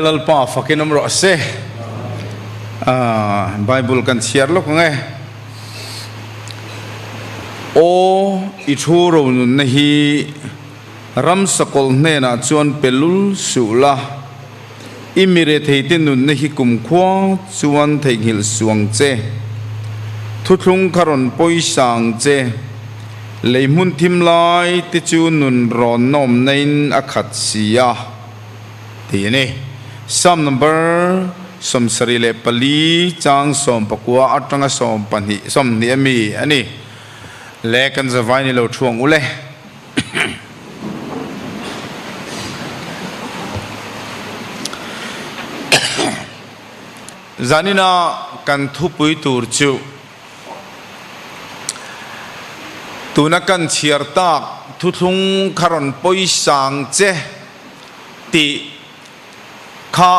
Lalpa fakin awm rawh se. Aaa bible kan chhiar lawk ang e. Aw i thu ronunna hi Ramsakawl hnenah chuan pe lul suh la. I miretheite nunna hi kum khua chuan theihnghilh suang che. Thuthlung kha rawn pawi sang che. Lei hmun thim lai te chu nun rawnna awmna in a khat si a. ti a ni. Psalm number sawmsarih leh pali, chang sawm pakua, atanga sawm pahnih, sawmhnih a mi a ni. Leh kan zavai ni lo thu ang u le. Zanina kan thupui tur chu tuna kan chhiar tak thuthlung kha rawn pawi sang che. tih kha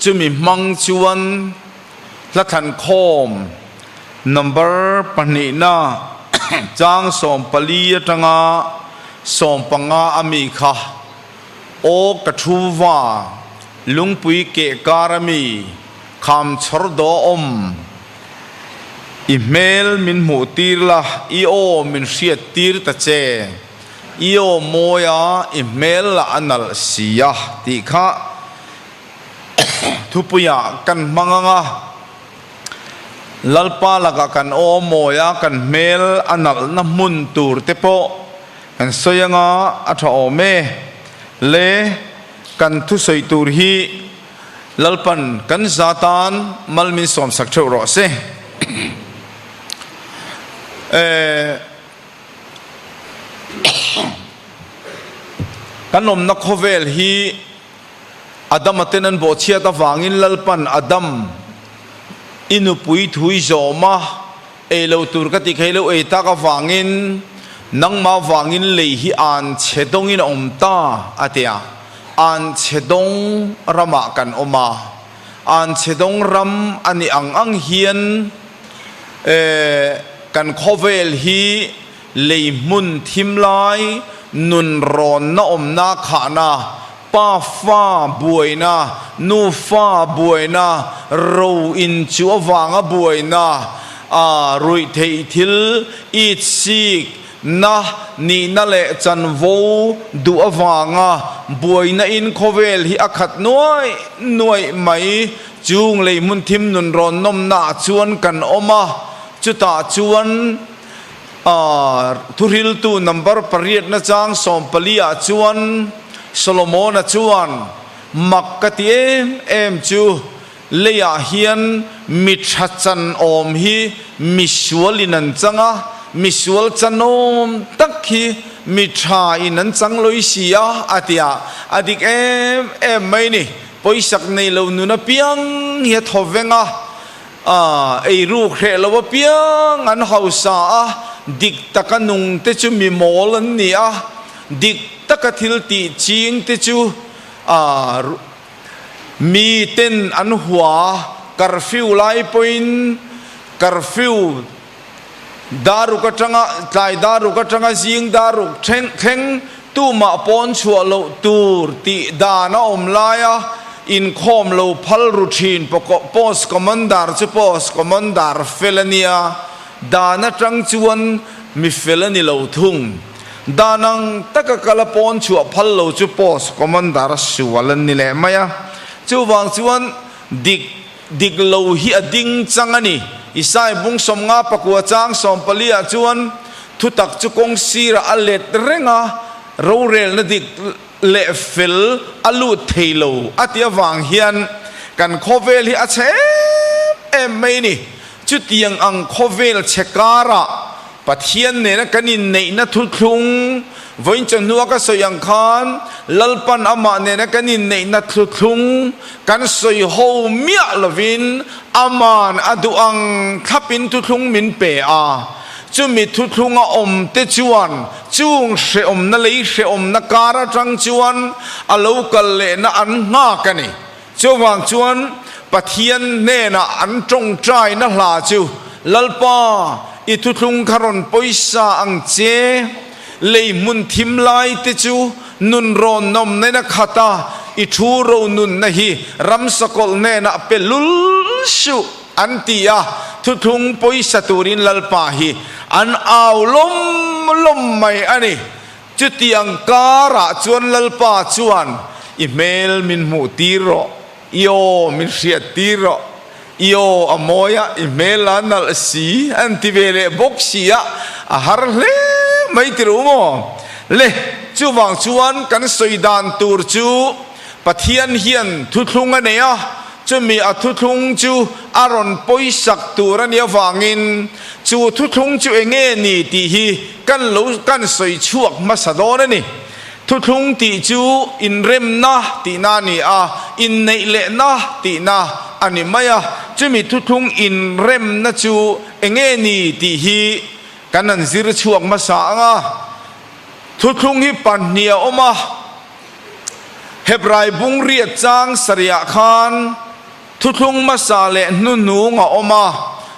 chumi hmang chuan hla thankhawm number pahnihna chang sawm pali atanga sawm panga a mi kha aw ka thuva Lungpui keh kar a mi kham chhawr daw awm i hmel min hmuh tir la i aw min hriat tir ta che. I awm mawi a, i hmel lah a nalh si a tih kha thupuia kan hma ngang a. Lalpa lakah kan awm mawi a, kan hmel a nalhna hmun tur te pawh kan sawi anga a tha awm e. Le kan thusawi tur hi Lalpan kan za tan mal min sawmsak theuh rawh se. Ehh. Kan awmna khawvel hi Adama ten an bawhchhiat avangin Lalpan, Adam, i nupui thui zawm a, ei lo tur ka tih kha i lo ei tak avangin nangmah vangin lei hi an chhe dawngin a awm ta, a ti a. An chhe dawng ramah kan awm a. an chhedawng ram a nih ang ang hian kan khawvel hi lei hmun thim lai nun rawnna awmna khahna, pa fa buaina, nu fa buaina, ro in chu avanga buaina, a ruih theih thil, eat, seek, Na nihna leh chanvo duh avanga buaina in khawvel hi a khat nuai nuaih mai. Chung lei hmun thim nun rawnnawmna ah chuan kan awm a, chutah chuan thuhriltu number pariatna chang sawmpali ah chuan Solomona chuan, Mak ka ti em em chu. Leiah hian mi tha chanawm hi misualin an chang a, misual chanawm tak hi mi thain an chang lawi si a, a ti a. A dik em em mai ni. Pawisak nei lo nun apiang hi a thaw veng a, ei ruk hreh lo apiang an hausa a, dik taka nung te chu mi mawl an ni a, dik taka thil tih ching te chu a, Mi ten an hua Curfew lai pawhin Curfew daruk atanga tlai daruk atanga zing daruk thleng thleng tumah pawn chhuah loh tur tih dan a awm lai a, inkhawm lo phal ru thin pawh Post Commander chu Post Commander fel a nia, dan atang chuan mi fel a ni lo thung. Dah nang taka kal a pawn chhuah phal lo chu post commander a sual an ni leh mai a, chuvang chuan dik dik lo hi a ding chang a ni. Isai bung sawmnga pakua chang sawm pali ah chuan thutak chu kawng sirah a let reng a, rorelna dik leh fel a lut thei lo a tia vang hian kan khawvel hi a chhem em mai a ni. Chutiang ang khawvel chhe karah Pathian nena kan inneihna thuthlung vawiinchawhnu a ka sawi ang khan Lalpan amah nena kan inneihna thuthlung kan sawi ho miah lovin Ama'n a duh ang thlapin thuthlung min pe a. Chumi thuthlung a awm te chuan chung hrehawmna lei hrehawmna kar atang chuan a lo kal lehna an nghak a ni. Chuvang chuan Pathian hnenah an ṭawngṭaina hla chu, Lalpa, i thuthlung kha rawn pawisa ang che. Lei hmun thim laite chu nun rawnawmnaina khat a, i ṭhu ro nunna hi ramsakawlh hnenah pe lul suh, an ti a. Thuthlung pawisa turin Lalpa hi an au lawm lawm mai a ni. Chutiang karah chuan Lalpa chuan, I hmel min hmuh tir rawh, i aw min hriat tir rawh, i aw a mawi a, i hmel la nalh a si an ti ve leh bawk si a, a har hle mai tirh u maw le. Chuvang chuan kan sawi dan tur chu Pathian hian thuthlung a nei a, chumi a thuthlung chu a rawn pawisak tur a nih avangin chu thuthlung chu enge ni tih hi Kan lo kan sawi chhuak hmasa dawn a ni. Thuthlung tih chu inremna tihna a ni a, inneih lehna tihna a ni mai a. Chumi thuthlung inremna chu eng nge ni tih hi kan han zir chhuak hmasa ang a. Thuthlung hi pahnih a awm a, Hebrai bungriat chang sarihah khan thuthlung hmasa leh hnuhnung a awm a,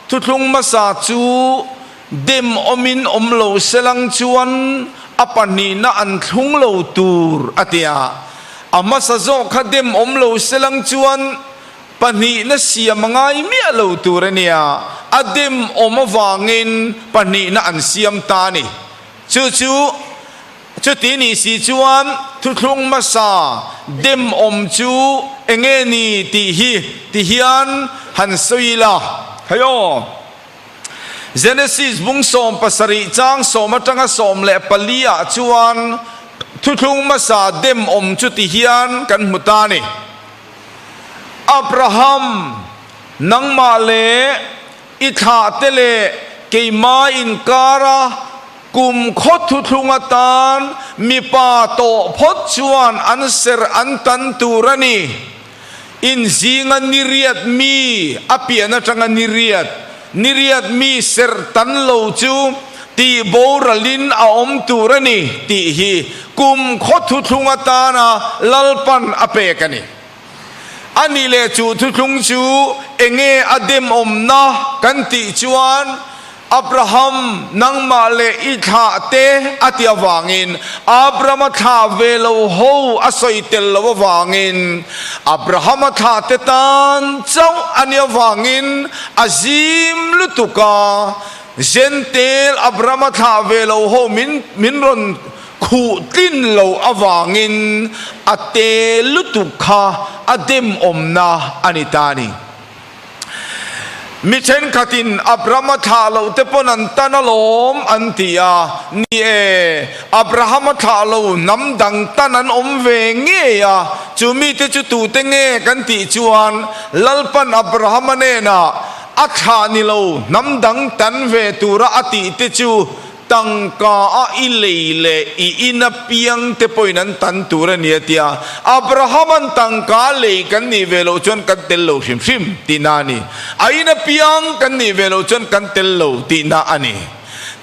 thuthlung hmasa chu, Dem awmin awm lo se lang chuan a pahnihna an thlung lo tur a ti a. A hmasa zawk kha dem awm lo se lang chuan pahnihna siam a ngai miah lo tur a nia, a dem awm avangin pahnihna an siam ta a ni. Chu chu chuti ni si chuan thuthlung hmasa dem awm chu enge ni tih hi ti hian han sawi ila, hei aw. Genesis bung sawm pasarih chang sawm atanga sawm leh pali ah chuan thuthlung hmasa dem awm chuti hian kan hmu ta ni. Abraham, nangmah leh i thlah te leh keimah inkar a kum khawt thuthlung atan mipa tawh phawt chuan an serh an tan tur a ni. Inzinga ni riat mi a pian atanga ni riat, ni riat mi serh tan lo chu tihboralin a awm tur a ni tih hi kum khaw thuthlung atana lalpan a pek a ni. A ni leh chuh thuthlung chu enge a demawmna kan tih chuan, Abraham, nangmah leh i thlah te, a ti avangin Abram a thlah ve lo ho a sawi tel lo avangin Abraham a thlah te tan chauh a nih avangin a zim lutuk a, Gentel Abram a thlah ve lo ho min min rawn khuh tlin lo avangin a te lutuk kha a demawmna a ni ta a ni. Mi thenkhatin Abrahama thlah loh te pawn an tan alawm an ti a, ni e, Abrahama thlah lo hnam dang tan an awm ve ngei a, chu mite chu tute nge kan tih chuan Lalpan Abrahama nena a thlah ni lo hnam dang tan ve tura a tih te chu Tangka a i lei leh i in apiang te pawhin an tan tur a ni a tia. Abrahaman tangka a lei kan nih ve loh chuan kan tel lo hrim hrim tihna a ni. A in apiang kan nih ve loh chuan kan tel lo tihna a ni.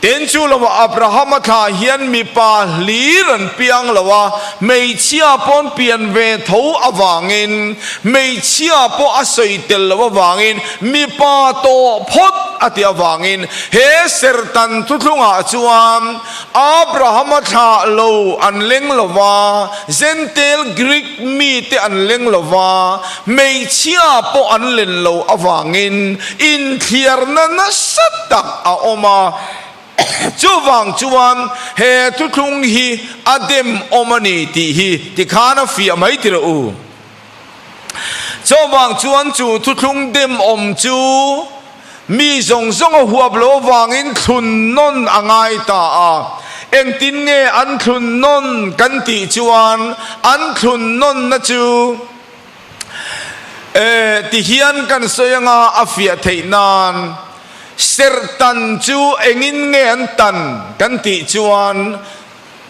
Tin chu lohah Abrahama thla hian mipa hlir an piang lo a, hmeichhia pawn pian ve tho avangin, hmeichhia pawh a sawi tel loh avangin Mipa tawh phawt a tih avangin he serhtan thu thlungah chuan Abrahama thla lo an leng lo va, Zentail Greek mite an leng lo va, hmeichhia pawh an len lo avangin inthliarna nasa tak a awm a. Chuvang chuan he thu thlung hi a demawm a ni tih hi tikhan a fiah mai tirh u. Chuvang chuan chu thuthlung dem awm chu mi zawng zawng a huap lo vangin thlun nawn a ngai ta a. Engtin nge an thlun nawn kan tih chuan an thlun nawnna chu eh ti hian kan sawi anga a fiah theih nan serh tan chu engin nge an tan kan tih chuan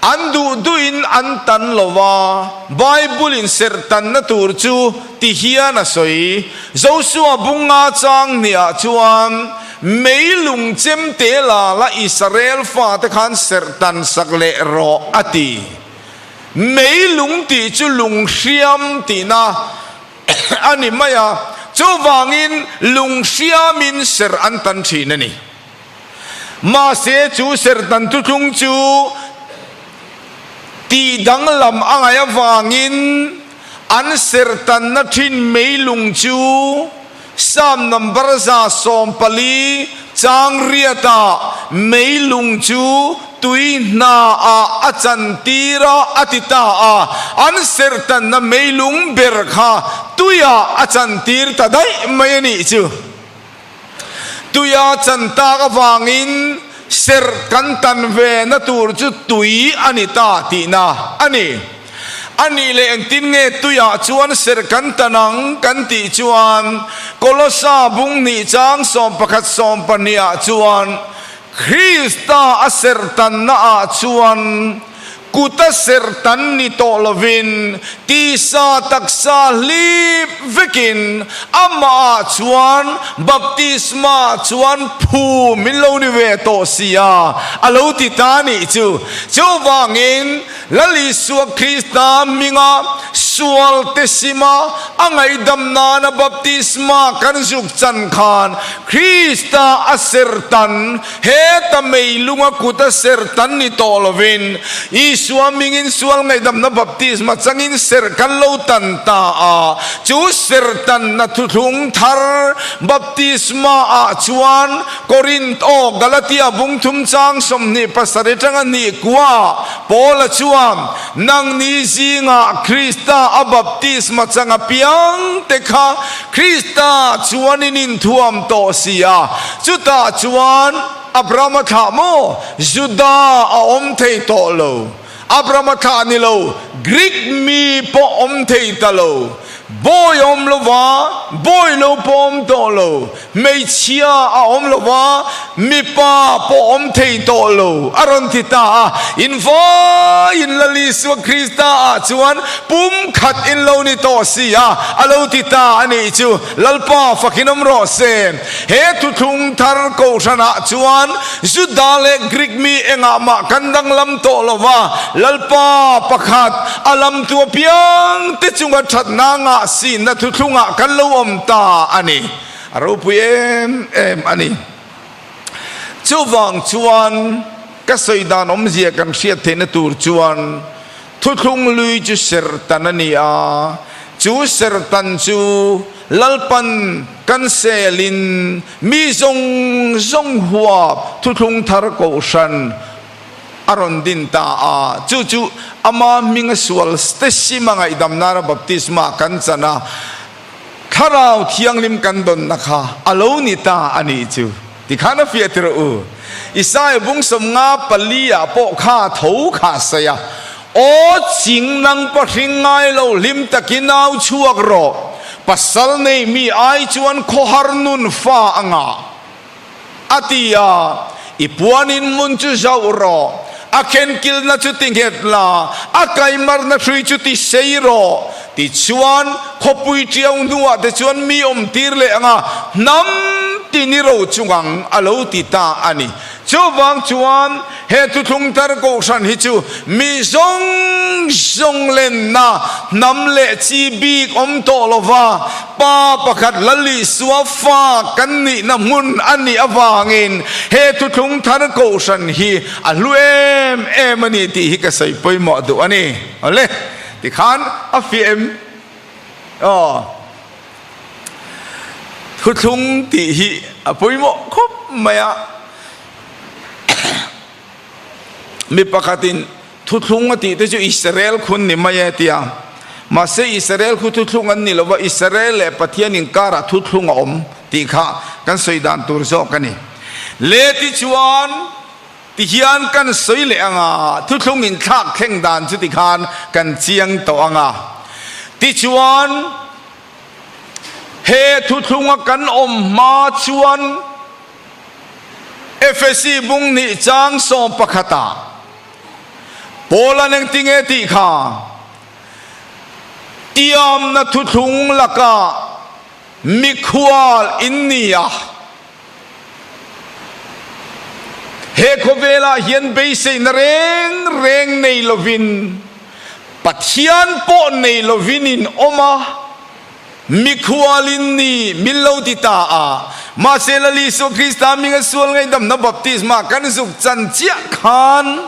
An duh duhin an tan lo va, Bible-in serhtanna tur chu ti hian a sawi, Joshua bunga chang hniah chuan mei lung chem te lala Israel fate khan serhtan sak leh rawh a ti. Mei lung tih chu lung hriam tihna a ni mai a, chuvangin lung hriamin serh an tan thin a ni. Mahse, chu serhtan thuthlung chu tih danglam a ngaih avangin an serhtanna thin mei lung chu Psalm number za sawm pali changriata mei lung chu tui hna ah a chan tir a a ti ta a, an serhtanna mei lung ber kha tui ah a chan tir ta daih mai a nih chu. Tuia chan tak avangin serh kan tan ve na tur chu tui a ni ta tihna a ni. A nih leh engtin nge tuia chuan serh kan tan ang kan tih chuan Kolosa bunghnih chang sawm pakhat sawm pahnih ah chuan Krista a serhtanna ah chuan kut a serhtan ni tawh lovin tisa taksa hlip vekin amah ah chuan baptisma chuan phu min lo ni ve tawh sia a lo ti ta nih chu. Chu vangin. Lal Isua Krista hminga sual te sim a, a ngaihdam nana baptisma kan zuk chan khan Krista a sertan, heta mei lunga kuta sertan ni tawh lovin Isua hmingin sual ngaihdamna baptisma changin ser kan lo tan ta a, chu sertanna thuthlung thar baptisma ah chuan Corinth aw Galatia vung thum chang sawmhnih pasarih tanga nih kua Paula chuan, Nangni zingah Krista a baptisma chang apiang te kha Krista chuan in inthuam tawh si a, chutah chuan Abrahama thlah maw? Judah a awm thei tawh lo. Abrama thla a ni lo, Greek mi pawh awm thei ta lo, bawi a awm lo va, bawi lo pawh a awm tawh lo, hmeichhia a awm lo va, mipa pawh a awm thei tawh lo a rawn ti ta a. In vaiin la Isua Krista ah chuan pum khat in lo ni tawh si a, a lo ti ta a nih chu. Lalpa fakin awm rawh se. He thuthlung thar kohhran ah chuan Juda leh Greek mi engah mah kan danglam tawh lo va, Lalpa pakhat a lam tu apiang te chunga thatna ngahsinna thuthlung ah kan lo awm ta a ni. A ropui em em a ni. Chuvang chuan ka sawi dan awmzia kan hriat theihna tur chuan, Thuthlung lui chu serhtan a ni a, chu serhtan chu Lalpan kan sel in mi zawng zawng huap thuthlung thar kohhran a rawn din ta a, chu chu ama hming a sual te sim a ngaihdamnara Baptisma kan chan a, Thlarau thianghlim kan dawnna kha a lo ni ta a nih chu. Ti khan a fiah tirh u. Isaiah bung sawm nga pali ah pawh kha tho kha saih a, Aw ching nang pa hring ngai lo hlim tak i nau chhuak rawh, pasal nei mi ai chuan khawhar nun fa a ngah a ti a, i puan in mun chu zauh rawh, a khenkilna chu ti nghet la, a kaimarna hrui chu ti sei rawh. Tichuan, khawpui tiau hnuah te chuan mi awm tir leh anga hnam ti ni ro chung ang a lo ti ta a ni. Chuvang chuan, he Thuthlung Tar Kohhran hi chu mi zawng zawng lenna hnam leh chi bik awm tawh lova pa pakhat Lalisua fa kan nihna hmun a nih avangin he Thuthlung Thar Kohhran hi a hlu em em a ni tih hi ka sawi pawimawh duh a ni. Awle. Tikhan a fiah em? Aw. Thuthlung tih hi a pawimawh khawp mai a. Mi pakhatin thuthlung a tihte chu Israel khu an ni mai e tia. Mahse Israel khu thuthlung an ni lova Israel leh Pathian inkarah thuthlung a awm tih kha kan sawi dan tur zawk a ni. Leti chuan. Ti hian kan sawi leh ang a, thuthlung in thlak thleng dan chuti khan kan chiang tawh ang a. Tichuan, he thuthlung a kan awm hma chuan Efesi bung hnih chang sawm pakhat ah Paul an engti nge tih kha tiamna thuthlung lakah mikhual in ni a, He khawvelah hian beiseihna reng reng nei lovin, Pathian pawh nei lovin in awm a, mikhualin ni min lo ti ta a. Mahse lal Isua Krista minga sual ngaihdamna baptisma kan zuk chan chiah khan,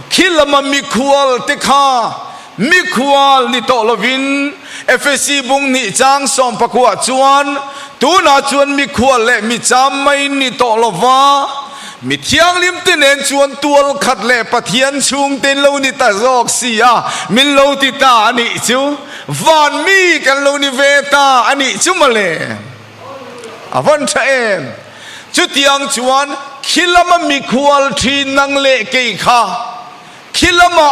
Khi lama mikhual te kha mikhual ni tawh lovin Efesi bung hnih chang sawm pakua chuan tunah chuan mikhual leh mi cham mai ni tawh lova Mithianghlim te nen chuan tual khat leh Pathian chhungte in lo ni ta zawk si a min lo ti ta a nih chu. Van mi kan lo ni ve ta a nih chu mawle. A van tha em! Chutiang chuan khilama mikhual thin nang leh kei kha khilama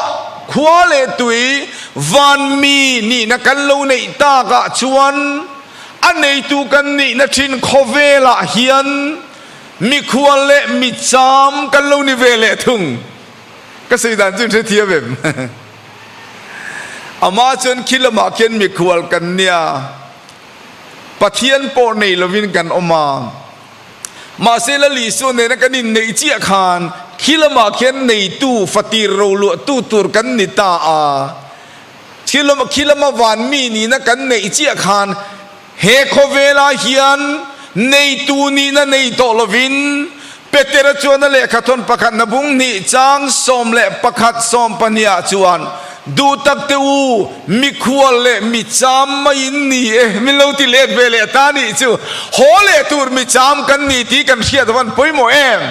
khua leh tui vanmi nihna kan lo neih tak ah chuan a neitu kan nihna thin khawvel ah hian mikhual leh micham kan lo ni ve leh thung. Ka sawi dan chu in hrethiam em? Amah chuan khilama khian mikhual kan nia. Pathian pawh nei lovin kan awm a. Mahsela Lisuan nena kan inneih chiah khan khi lamah khian neitu, fatir ro luahtu tur kan ni ta a. Khi lama van mi nihna kan neih chiah khan he khawvela hian neitu nihna nei tawh lovin Petera chuan a lehkha thawn pakhat na bung hnih chang sawm leh pakhat sawm pahniha chuan, Duhtak te u, mikhual leh mi cham mai in ni e, min lo ti let ve leh ta nih chu, haw leh tur mi cham kan ni tih kan hriat van pawimawh em?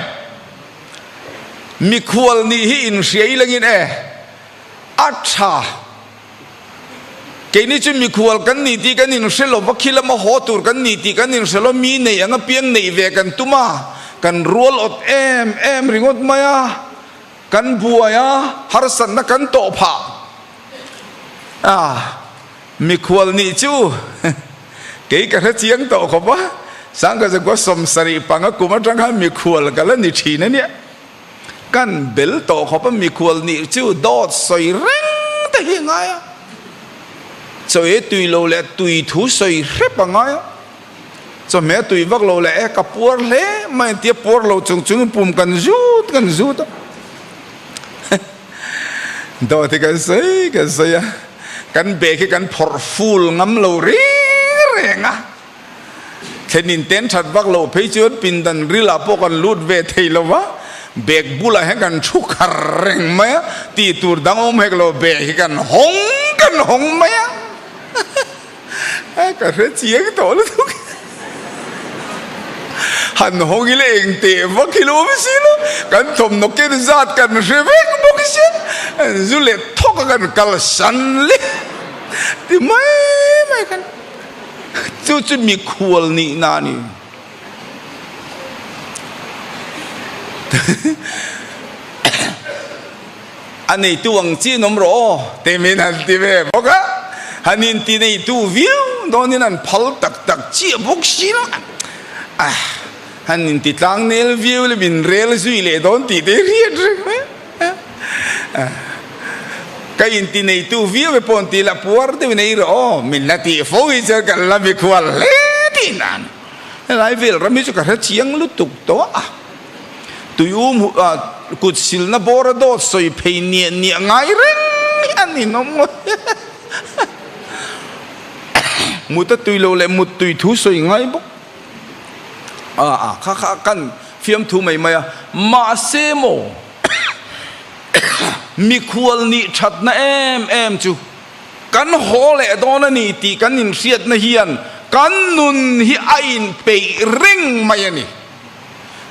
Mikhual nih hi inhriai langin e a tha. Keini chu mikhual kan ni tih kan inhre lo, va khi lama haw tur kan ni tih kan inhre lo, mi neih anga piang neih ve kan tum a, kan rualawt em em ringawt mai a, kan buai a, harsatna kan tawh phah a, mikhual nih chu kei ka hre chiang tawh khawp a, Sangkazakua sawm sarih panga kum atanga mikhual ka la ni thin ania. Kan bel tawh khawp a, mikhual nih chu dawt sawi reng te hi a ngai a, chaw e tui lo leh tui thu sawi hrep a ngai a, chawhmeh a tui vak lo leh e ka puar hle mai an ti a, puar lo chung chungin pum kan zut kan zut a, dawt hi kan sawi kan sawi a, kan bag hi kan phawrh ful ngam lo reng reng a. Thlenin ten that vak loh phei chuan pindan ril ah pawh kan lut ve thei lo va, bag bulah hian kan thu khar reng mai a, tih tur dang awm hek lo bag hi kan hawng kan hawng mai a, ka hre chiang tawh lutuk hi, han hawng ila eng teh vak hi lo awm si lo, kan thawmhnaw ken zat kan hre vek bawk hi sia, zu let thawk a kan kal san leh ti mai mai khan. chu chu mikhual nihna a ni. A neitu ang chin awm rawh aw timin an ti ve bawk a, han inti neitu viau dawnin an phal tak tak chiah bawk si lo. Ah, han intitlang nel viau lem inrel zui leh dawn tih te hi a hriat reng mai. Ka inti neitu viau e pawn ti lah puar deuhin ei rawh aw, min la tih fo hi chuan kan la mi khual hle tih nan. Helai vel ram hi chu ka hre chiang lutuk tawh a. Tui um kut silna bawr a dawt sawi phei niah niah ngai reng hi a ni nawm ngawt. Muta tui lo leh mut tui thu sawi ngai bawk. a kha kha kan fiamthu mai mai a mahse maw mikhual nih thatna em em chu kan haw leh dawn a ni tih kan inhriatna hian kan nun hi a inpeih reng mai a ni.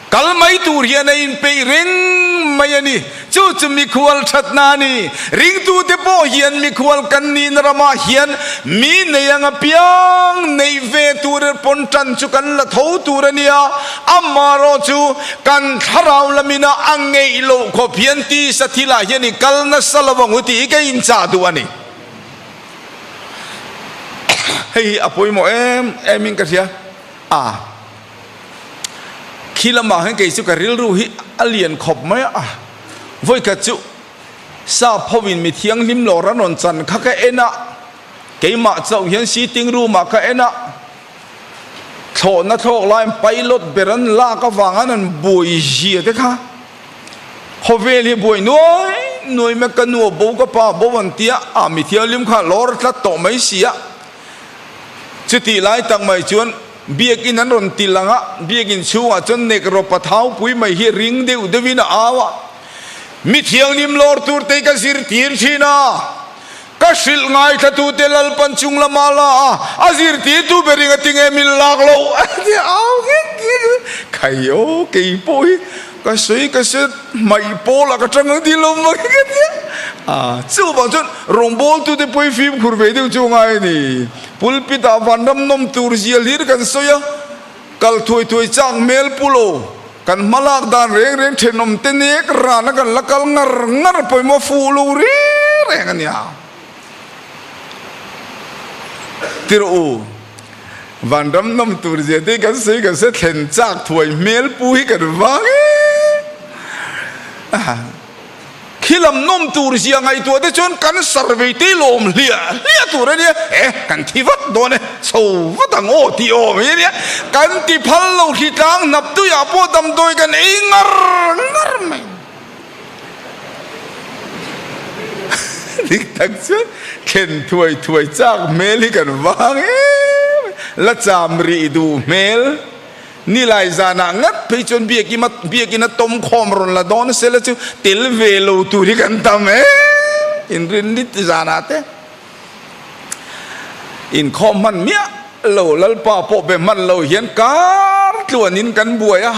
Kal mai tur hian a inpeih reng mai a ni. Chu chu mikhual thatna a ni. Ringtute pawh hian mikhual kan nihna ramah hian mi nei anga piang neih ve tur pawn tan chu kan la tho tur a nia. Amaherawh chu kan thlarau lamin a a ngeih loh khawp hian tisa thil ah hian i kal nasa lo ang u tih hi ka inchah duh a ni. Hei hi a pawimawh em em in ka hria a. Khi lamah hian kei chu ka rilru hi a lian khawp mai a, vawi khat chu sa pho in mi thianghlim lawr a rawn chan kha ka en a, keimah chauh hian sitting room ah ka en a, thlawhna thlawk laiin pilot ber an lak avang an han buai zia te kha khawvel hi buai nuai nuai mai ka nu a bo ka pa a bo an ti a, a mi thianghlim kha lawr tlat tawh mai sia, chutihlai tak mai chuan. Biakin an rawn til ang a, biakin chhungah chuan Nekropa thaupui mai hi ring deuh deuhin a au a, Mi thianghlim lawr tur te hi ka zir tir thin a, ka hrilh ngaithlatu te lalpan chung lama la a, a zir tir tu ber in a ti nge min lak loh, a ti a au ngek ngek a, Khaio kei pawh hi. Ka sawi ka se hmaih pawl a ka tang ang tih lo mai ka ti a, chuvang chuan rawngbawltute pawhin fimkhur ve deuh chu a ngai a ni. Pulpit ah vanram nawm tur zia hlir kan sawi a, kal thuai thuai chak hmel pu lo, kan hma lak dan reng reng thenawmte nek rana kan la kal ngar ngar pawimawh fuh lo reng reng a nia. Tirh u, van ram nawm tur zia te hi kan sawi kan se, thlen chak thuai hmel pu hi kan vang e. Khi lam nawm tur zia ngaihtuah te chuan kan survey te hi lawm hliah hliah tur a nia, eh kan thi vat dawn e, chho vat ang aw tih aw mai a nia, kan ti phal lo, hritlang hnap tuiah pawh damdawi kan ei ngar ngar mai. Dik tak chuan thlen thuai thuai chak hmel hi kan vang em em, la cham rih duh hmel ni lai zanah ngat phei chuan biakim a biakin a tawm khawm rawn la dawn sela chu tel ve lo tur hi kan tam em em, inrinrit zanah te. Inkhawm hman miah lo Lalpa pawh be hman lo hian kar tluan in kan buai a,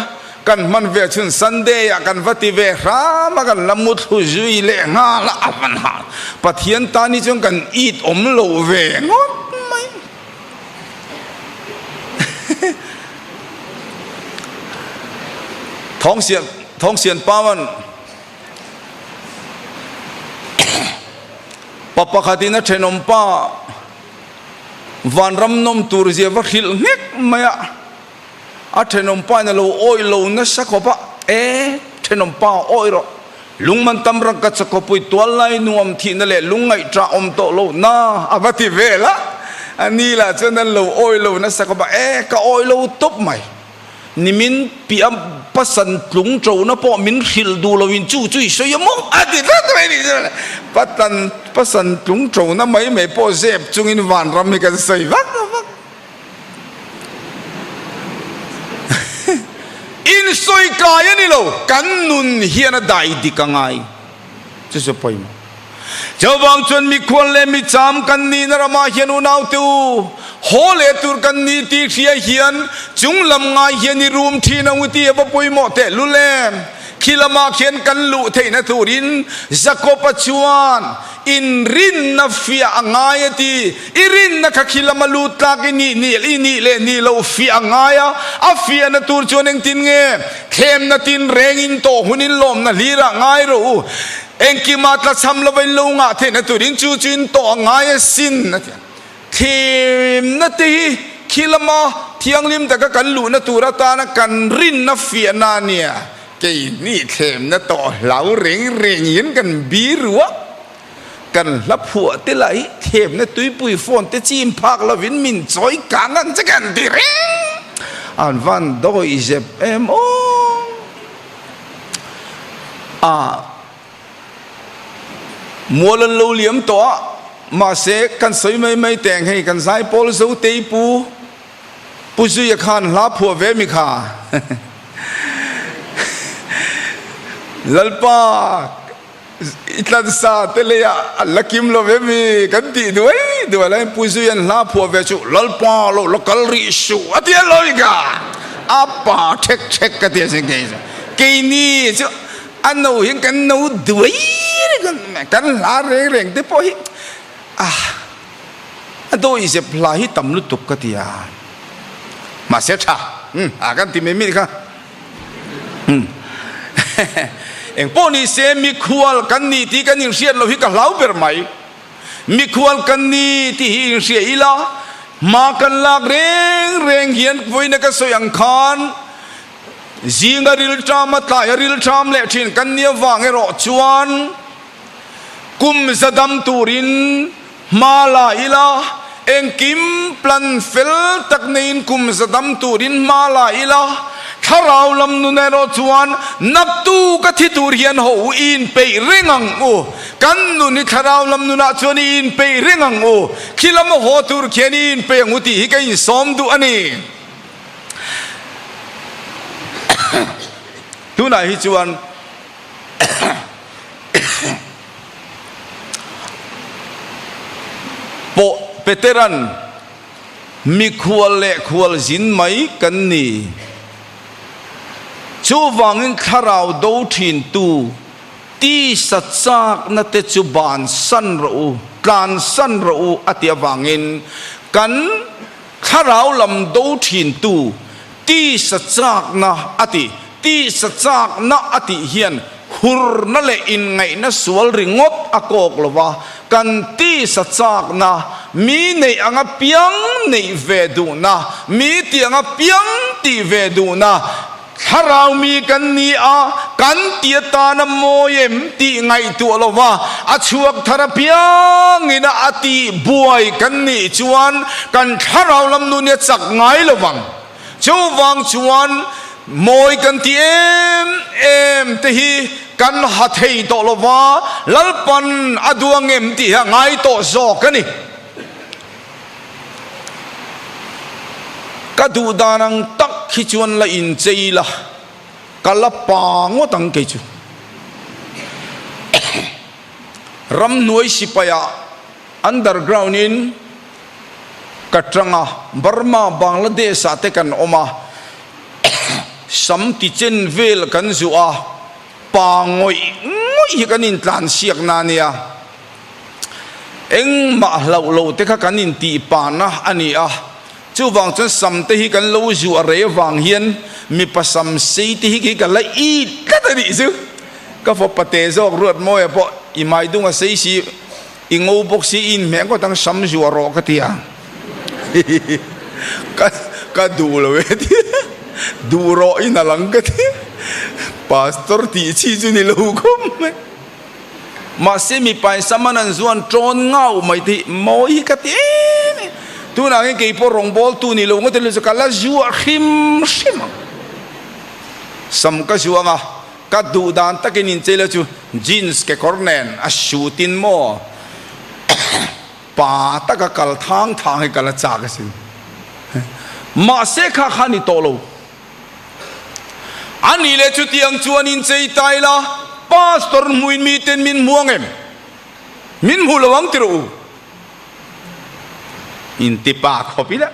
kan hman ve chhun Sunday ah kan va ti ve hram a kan la mu thlu zui leh nghal a hmanah Pathian tan hi chuan kan it awm lo ve ngawt mai. Thawngsian Thawngsian Pawan. Pa pakhatin a thenawm pa van ramnawm tur zia va hrilh nghek mai a, a thenawm pain a lo awih lo nasa khawp a, E thenawm pa awih rawh, lungman tam rak ka chakawpui tual lai nuam thihna leh lung ngaihṭah awm tawh lo na a va ti vel a, ani lah chuan an lo awih lo nasa khawp a, E ka awih lo tawp mai. ni min piah a pasan tlung ṭona pawh min hrilh duh lo in chu chu i sawi a maw? A ti ta ta mai ni chuan patan pasan tlung ṭona mai mai pawh zep chung in vanram hi kan sawi vak lo vak. Insawi kai a ni lo, kan nun hian a dai dik a ngai. Chu chu pawimawh. Jehovah ang chuan mikhual leh micham kan nihna ramah hian unaute u haw leh tur kan ni tih hria hian chung lam ngai hian i rum thin ang u tih a va pawimawh teh lul em? Khi lamah khian kan luh theihna turin Jakoba chuan inrinna fiah a ngai a ti. I rinna kha khi lama lut tlak i nih nih i nih leh nih loh fiah a ngai a, a fiah na tur chuan engtin nge? Thlemna tin reng in tawh hun in lawmna hlir ah ngai rawh u, engkim ah tla chham lova in lo ngah theih na tur in chu chu in tawh a ngai a sin a ti. Thlemna te hi khi lama thianghlim taka kan luh na tur atan a kan rinna fiah na nia kei nih thlemna tawh hlau reng reng in kan bi ruah Kan hla phuah te lah hi themna tuipui phone te chim phak lo in min chawi kang ang che kan ti reng. An van dawi zep em aw. Ahh mual an lo liam tawh a, mahse kan sawi mai mai teng hei kan Zaipawl Zotei pu Pu Zuia khan hla phuah ve mi kha Lalpa. I tlansa te lei ah a la kim lo em i kan tih duai duai la in Puizui an hla phuah ve chu Lalpa lo la kal rih suh a ti alawm i ka a pa thek thek ka ti a si kei chu kei ni chu a no hian kan no duai reng ang mai kan hla reng reng te pawh hi ah a dawi zep hla hi tam lutuk ka ti a mahse tha a kan ti mai mai kha. Eng pawh ni se mi khual kan ni tih kan inhriat lo hi ka hlau ber mai. Mi khual kan ni tih hi inhriat ila hma kan lak reng reng hian vawiina ka sawi ang khan zinga rilṭam a tlai a rilṭam leh ṭhin kan ni avang erawh chuan kum za dam turin Hma la ila, engkim plan fel tak neiin kum zadam turin hma la ila, thlarau lam nun erawh chuan naktu ka thi tur hian haw u, i inpeih reng ang u, kan nun hi thlarau lam nunah chuan i inpeih reng ang u, khi lam a haw tur khian i inpeih ang u tih hi ka insawm duh a ni. Tunah hi chuan. Pawh Peteran, Mikhual leh khual zin mai kan ni. Chuvangin thlarau do thintu tisa chakna te chu bansan rawh u, tlansan rawh u a tih avangin kan. Thlarau lam do thintu tisa chakna a ti. Tisa chakna a tih hian hurna leh inngaihna sual ringawt a kawk lo va, kan tisa chakna, mi neih anga piang neih ve duhna, mi tianga piang tih ve duhna, Thlarau mi kan ni a, kan ti atan a mawi em tih ngaihtuah lo va, a chhuak thar apiang in a a tih buai kan nih chuan kan thlarau lam nu nia chak ngai lo vang. Chuvang chuan mawi kan ti em em te hi kan ha thei tawh lo va, Lalpan a duang em tih hi a ngai tawh zawk a ni. Ka duh dan ang tak khi chuan la in chei la, ka la pa ngawt ang kei chu. Ramhnuai sipai ah underground in ka tang a, Burma, Bangladesh ah te kan awm a, sam ti chen vel kan zuh a, pa ngawih ngawih hi kan in tlansiak na nia. engmah hlauh loh te kha kan intih pan a a ni a, chuvang chuan sam te hi kan lo zu a rei avang hian mipa sam sei te hi khi ka la it tlat a nih chu, ka fapa teh zawk ruat mawi a pawh i mai dung a sei si i ngo bawk si i inhmeh ngawt ang sam zu a rawh ka ti a hihihi ka ka duh lo e ti a duh rawh in alang ka ti a pastor tih chi chu ni lo khawp mai. Mahse mipai saman an zuan tawn ngau mai te hi mawi hi ka ti em em. Tunah hian kei pawh rawngbâwl tu ni lo ngawt erawh chu ka la zuah hrim hrim ang. Sam ka zuah ang a, ka duh dan takin inchei la chu jeans kekawr nen a suit in maw pa taka kal thang thang hi ka la châk asin. Mahse kha khan i tawh lo. A nih leh chutiang chuan in chei ta ila, Pastor hmuin mi ten min hmu ang em? Min hmu lo ang ti rawh u. In ti pa khawp ila,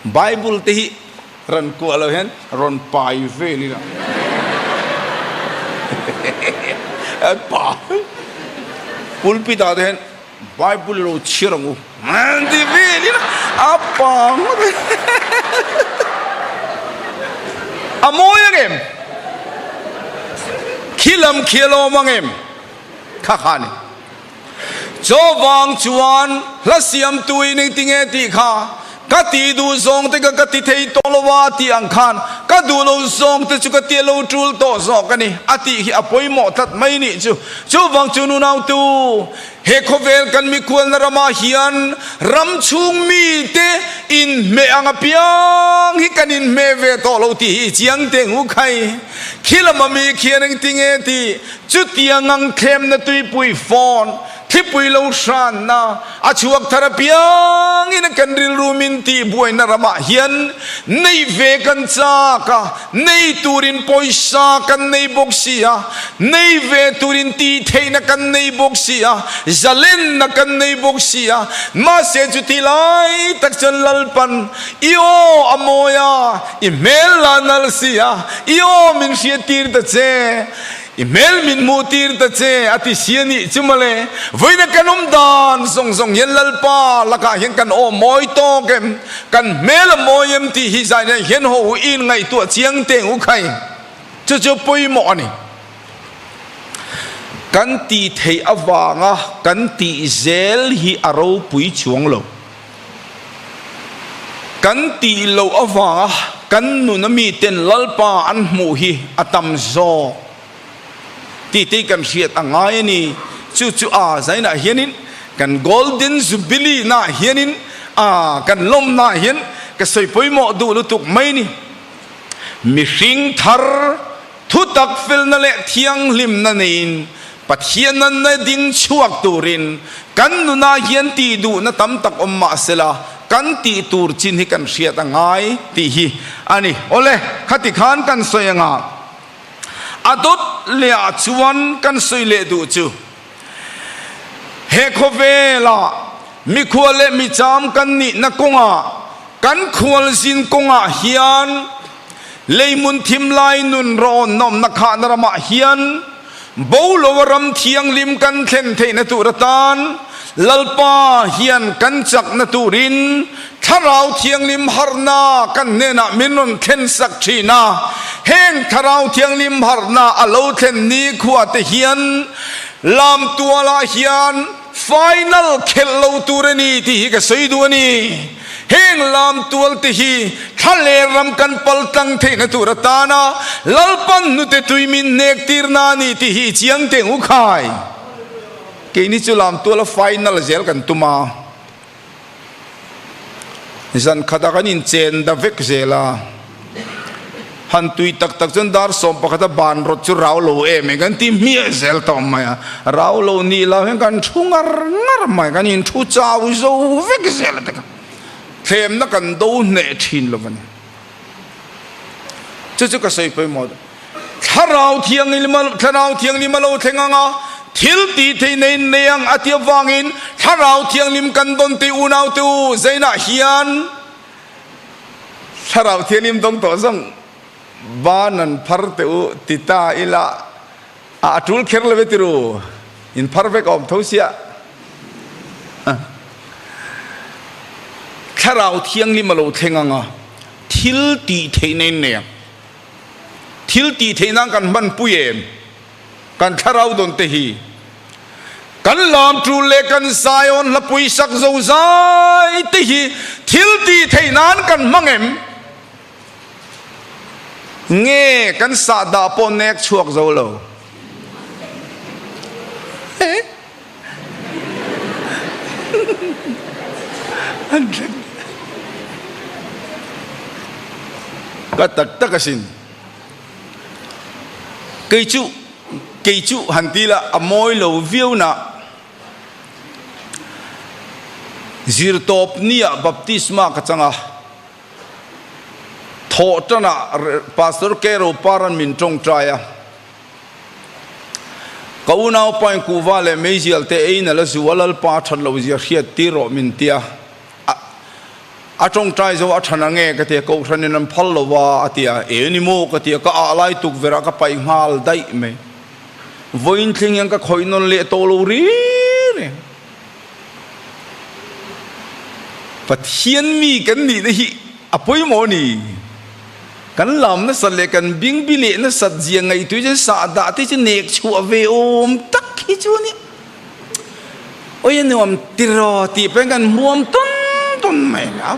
Bible te hi rawn kuah lo hian rawn pai vel ila. An pa, pulpit ah te hian, Bible lo chhiar ang u. Ti vek in a pang ve. A mawi ang em? Khi lam khi a lawm ang em? Kha kha ni. Chaw vang chuan hla siamtu i ning ti nge tih kha. Ka ti duh zawng te kha ka ti thei tawh lo a tih ang khan ka duh lo zawng te chu ka ti a lo tul tawh zawk a ni a tih hi a pawimawh tlat mai nih chu. Chuvang chuan unaute he khawvel kan mikhualna ramah hian ram chhung mite inhmeh ang apiang hi kan inhmeh ve tawh lo tih hi i chiang teng u khai. Khilam ami khian engtin nge tih chutia ngang thlemna tuipui phone Thipui lo hranna a chhuak thar apiangin kan rilru min tih buaina ramah hian neih ve kan chak a, nei turin pawisa kan nei bawk si a, nei ve turin tihtheihna kan nei bawk si a, zalenna kan nei bawk si a, mahse chuti lai tak chuan Lalpan i aw a mawi a, i hmel la nal si a, i aw min hriattir ta che. I hmel min hmuh tir ta che a ti si a nih chu male vawiina kan awm dan zawng zawng hian Lalpa lakah hian kan awm mawi tawk em? Kan hmel a mawi em tih hi zai leh hian haw u in ngaihtuah a chiang teng u khai. Chu chu pawimawh a ni. Kan tih theih avanga kan tih zel hi a ropui chuang lo. Kan tih loh avanga kan nuna miten Lalpa an hmuh hi a tam zawk titei kan hriat a ngai a ni. Chu chu aa zainah hianin kan Golden Jubilee naah hianin aa kan lawm naah hian ka sawi pawimawh duh lutuk mai a ni. Mihring thar. Thutak felna leh thianghlimna neiin Pathian a na ding chhuak turin kan nunah hian tih duhna tam tak awm mah sela kan tih tur chin hi kan hriat a ngai tih hi a ni. Awle, khati khan kan sawi anga a dawt leh ah chuan kan sawi leh duh chu. He khawvel ah mikhua leh micham kan nihna kawng ah kan khualzin kawng ah hian Leimun Thimlai nun rawn awmna khahna ram ah hian Bolo a ram thianglim kan thlen theihna tur atan Lalpa hian kan chakna tur in Thlarau Thianghlim harna kan hnenah min rawn thlensak thin a, heng Thlarau Thianghlim harhna a lo thlen nikhua te hian Lamtualah hian final khelh lo tur a ni tih hi ka sawi duh a ni. Heng Lamtual te hi Thlaler ram kan pal tlang theihna tur atana Lalpan hnute tui min hnek tirna a ni tih hi i chiang teng u khai. Keini chu Lamtuala final zel kan tum a. zan khat a kan in chen da vek zel a han tui tak tak chuan dar sawm pakhat a ban rawt chu rau lo em e kan ti hmiah zel tawh mai a rau lo ni lo hian kan thu ngar ngar mai kan in thu chau zo vek zel a thlem na kan do hneh thin lo va ni. chu chu ka sawi pawimawh duh. Thlarau thianghlim a Thlarau thianghlim a lo thleng ang a, thil tihtheih na in nei ang a ti avangin Thlarau thianghlim kan dawn teh unaute u, zainah hian Thlarau thianghlim dawng tawh zawng ban an phar teh u ti ta ila A a tul kher lo e tiro, in phar vek a awm tho sia. Thlarau Thianghlim a lo thleng ang a, thil tih theih na in nei ang. Thil tih theih nan kan hman pui em? Kan thlarau dawn te hi kan lamṭul leh kan Zion hlapui sak zozai te hi thil tih theih nan kan hmang em? Nge kan sahdah pawh nek chhuak zo lo? Ka tak tak a sin. Kei chu, kei chu han ti la a mawi lo viau nah Zirtawp nia baptisma ka chang a. thawh tana Pastor Kero par an min tawngtai a. Ka unau pa in kuhva leh meizial te ei na la zu a lalpa a that lo zia hriat tir rawh min ti a. A a tawngtai zo a than ange ka ti a, Kohhran in an phal lo a a ti a, e ni maw ka ti a, ka ah lai tukverh ah ka paih nghal daih mai. Vawiin thleng hian ka khawih nawn leh tawh lo ri ri. Pathian mi kan nihna hi a pawimawh a ni. Kan lam nasat leh kan bing bi leh nasat zia ngaihtuah chuan sah dah te chu nek chhuah ve awm tak hi chu a ni. Awia nuam tiraw tih pahin kan hmuam tawn tawn mai lo.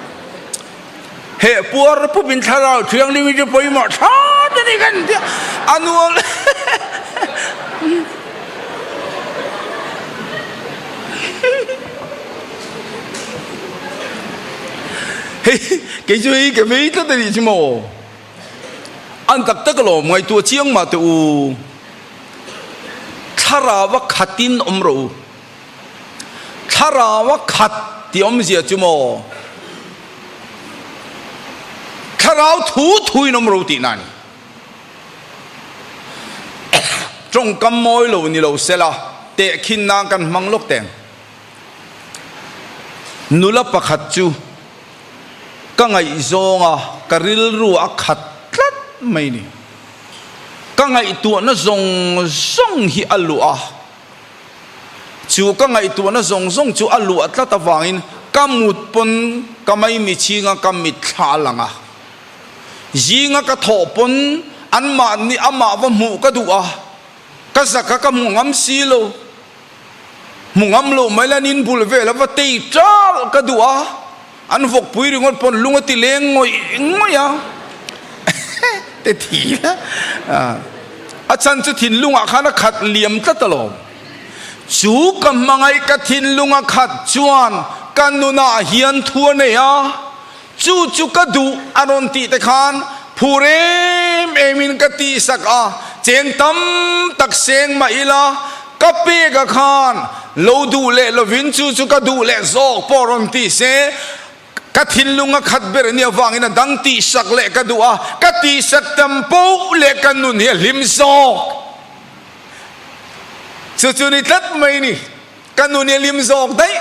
Heh puar pawpin Thlarau Thianghlim hi chu pawimawh tha te ni kan tia a nuam hei kei chu hei ke mai tlat a nih chu maw an tak tak alawm ngaihtuah a chiang mah teh u Thlarau a khatin awm ro u. Thlarau a khat ti awmzia chu maw? Thlarau thu thuin awm ro tihna a ni. Tawngkam mawi lo ni lo sela tehkhin nan kan hmang lawk teng. Nula pakhat chu ka ngaihzawng a ka rilru a khat tlat mai ni. Ka ngaihtuahna zawng zawng hi a luh a. Chu ka ngaihtuahna zawng zawng chu a luah tlat avangin ka mut pawn ka mai michhinga ka mit thla a lang a. Zinga ka thawh pawn anmah nih amah va hmuh ka duh a, ka zaka ka hmu ngam si lo. Hmu ngam loh mai lanin bul vel a va tei ṭalh ka duh a. An vawkpui ringawt pawn lung a ti leng ngawih ngawih a, Ehe, te thi la, a chhan chu thinlungah khan a khat liam tlat alawm. Chu ka hmangaih ka thinlung a khat chuan ka nunah hian thu a nei a, chu chu ka duh a rawn tih te khan phur em em in ka tihsak a, chen tam tak seng mah ila, Ka peka khan lo duh leh lovin chu chu ka duh leh zawk pawh rawn ti se, ka thinlung a khat ber ania vangin a dang tih sak leh ka duh a, ka tih sak tam poh leh ka nun hi a hlim zawk. Chu chu ni tlat mai ni, ka nun hi a hlim zawk daih,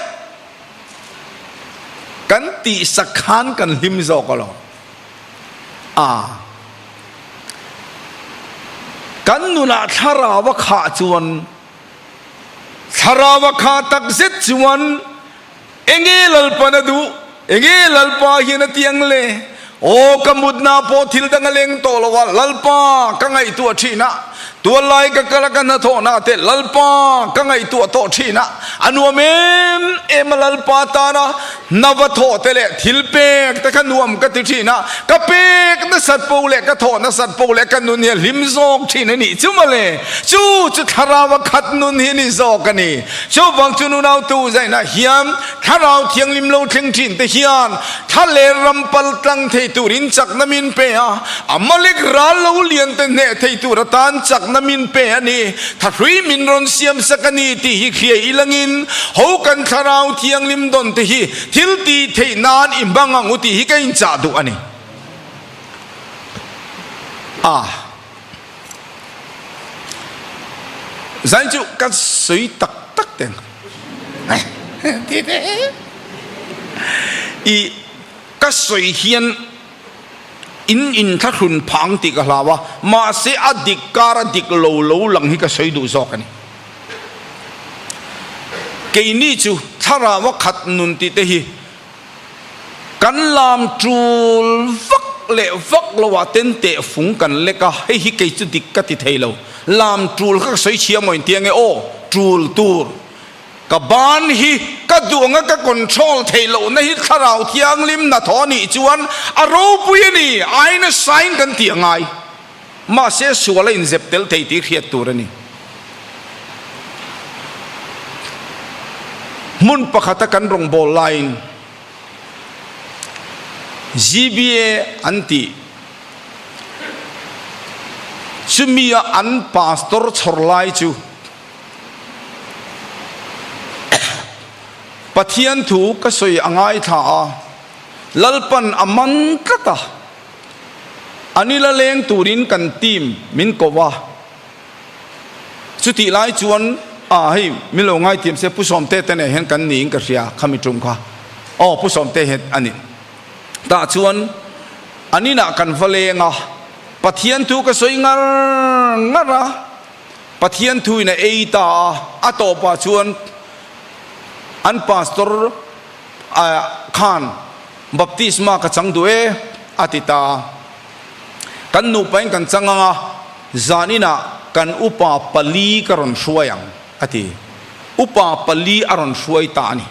kan tih sak khan kan hlim zawk alawm. a. Kan nunah Thlaraua khah chuan Thlaraua khah tak zet chuan Enge Lalpa na duh? Enge Lalpa hian a tiang le? Aw ka mutna pawh thil dang a leng tawh lo a, Lalpa ka ngaihtuah a thin a, tual lai ka kal a ka hnathawh na te Lalpa ka ngaihtuah tawh thin a, a nuam em em a Lalpa tana. Na va thawh te leh thil pek te kha nuam ka ti thin a, ka pek nasat pawh leh ka thawh nasat pawh leh ka nun hi a hlim zawk thin a nih chu mawle. Chu chu Thlarau a khat nun hi ni zawk a ni. Chuvang chu nunau tu zainah hian Thlarau thianghlim lo thleng thin te hian thaler ram pal tlang thei turin chakna min pe a, a malik ral lo lian te hneh thei tur atan chakna min pe a ni. Tha hlui min rawn siam sak a ni tih hi hriai i langin ho kan Thlarau Thianghlim dawn te hi thil ti theih nan i hmang ang u tih hi ka inchah duh a ni. A zain chu ka sawi tak tak teng ti te i ka sawi hian, in inthlahlun phang tih ka hlau a, mahse a dik kar a dik lo lo lang hi ka sawi duh zawk a ni. Keini chu thlarau a khat nun tih te hi kan lam tul vak leh vak lo ah ten teh fung kan lek a, hei hi kei chu dik ka ti thei lo, lam tul kha ka sawi chhia maw intiang e, aw tul tur. Ka ban hi ka duh ang a, ka control theih loh na hi Thlarau Thianglim na thaw nih chuan a ropui a ni, aina sign kan ti a ngai. Mahse sual a inzep tel thei tih hriat tur a ni. Hmun pakhata kan rawngbâwl laiin GBA an ti, chumia an pastor chhawr lai chu, Pathian thu ka sawi a ngaithla a, Lalpan a man tlat a, a ni la leng turin kan team min koh a, chutih lai chuan ah hei min lo ngaithiam se Pu Sawmte te nehhian kan niin ka hria kha mi ṭum kha, aw Pu Sawmte hi a ni tah chuan a ninah kan va leng a, Pathian thu ka sawi ngar ngar a. Pathian thuin a ei ta a, a tawpah chuan an pastor khan baptisma ka chang duh e a ti ta. Kan nupain kan chang anga zaninah kan upa pali ka rawn hruai ang a ti. Upa pali a rawn hruai ta a ni.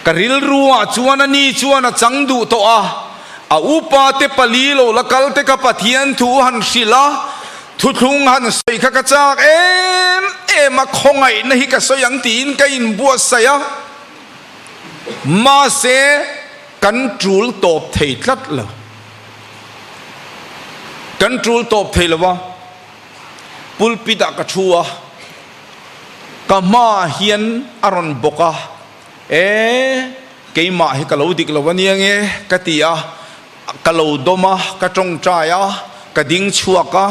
Ka rilru ah chuan a ni chuan a chang duh tawh a, a upa te pali lo la kal te ka Pathian thu han hrilh a, thuthlung han sawi kha ka chak em em a, khawngaih na hi ka sawi ang tiin ka in buatsaih a, mahse kan tul tawp thei tlat lo, kan tul tawp thei lo a, pulpit ah ka thu a. Ka hma ah hian a rawn bawk a, E, keimah hi ka lo dik lo aniang e, ka ti a, ka lo dawm a, ka tawngtai a, ka ding chhuak a,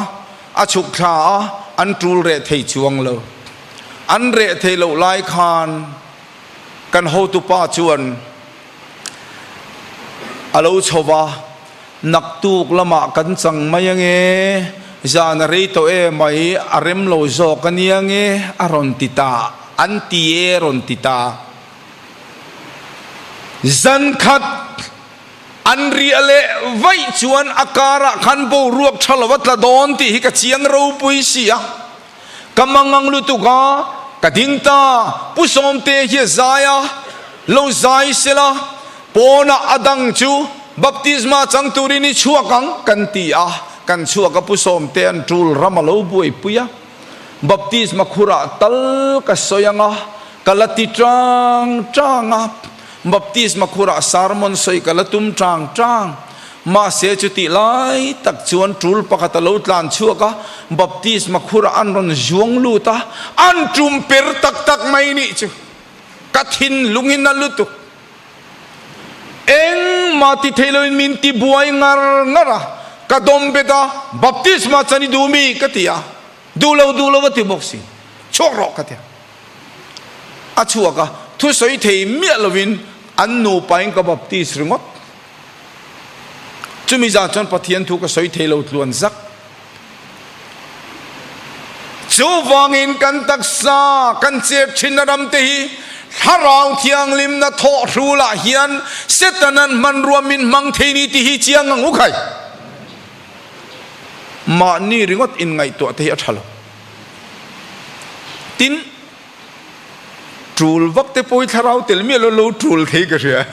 a chhuk thla a, an tul reh thei chuang lo. An reh thei loh lai khan kan hotupa chuan. A lo chho va, naktuk lamah kan chang mai ange, zan a rei tawh e mai, a rem lo zawk a nia nge a rawn ti ta, an ti e a rawn ti ta. Zan khat an riah leh vaih chuan a karah khan boruak tha lo a tla dawn tih hi ka chiang ropui sia. Ka mangang lutuk a, ka ding ta, Pu Sawmte hi a zai a, lo zai se la, pawnah a dang chu Baptisma chang turin i chhuak ang, kan ti a, kan chhuak a, Pu Sawmte an tul ram a lo buaipui a, Baptisma khurah tal ka sawi ang a, ka la ti ṭang ṭang a, Baptisma khurah sarmon sawi ka la tum ṭang ṭang. Mahse, chutih lai tak chuan tul pakhat a lo tlan chhuak a, baptisma khurah an rawn zuang lut a, an tum per tak tak mai nih chu. Ka thinlung hi na lutuk engmah ti theih loin min ti buai ngar ngar a, ka dawm bet a, baptisma chan i duh mi? ka ti a, duh lo duh lo a ti bawk si, chhuak rawh ka ti a. A chhuak a, thusawi thei miah loin an nupa in ka baptise ringawt. Chumi zan chuan Pathian thu ka sawi thei lo tluan zak. Chu vangin kan taksa, kan chep thinna ram te hi Thlarau Thianghlimna thawh hrul ah hian Setana an hmanrua min hmang thei ni tih hi chiang ang u khai. Mahni ringawt in ngaihtuah te hi a tha lo. Tin, tul vak te pawh hi thlarau tel miah lo lo tul thei ka hria.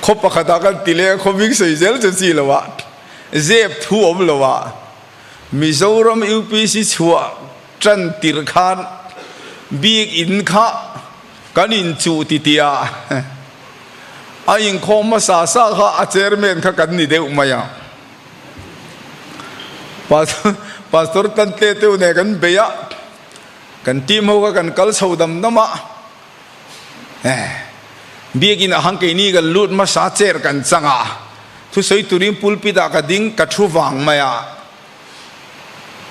Khaw pakhatah kan ti leh a, khaw hming sawi zel chu chi loh a, zep thu awm loh a, Mizoram UPC chhuah tan tirh khan bik in kha kan in chuh titia a inkhawm hmasa sa kha a chairman kha kan ni deuh mai a, Pastor Tantleteu nen kan bei a. Kan team ho kha kan kal chho dam dam a, eh. Biakin ahang keini kan lut hmasa cher kan chang a, thusawi turin pulpit ah ka ding ka thu vang mai a.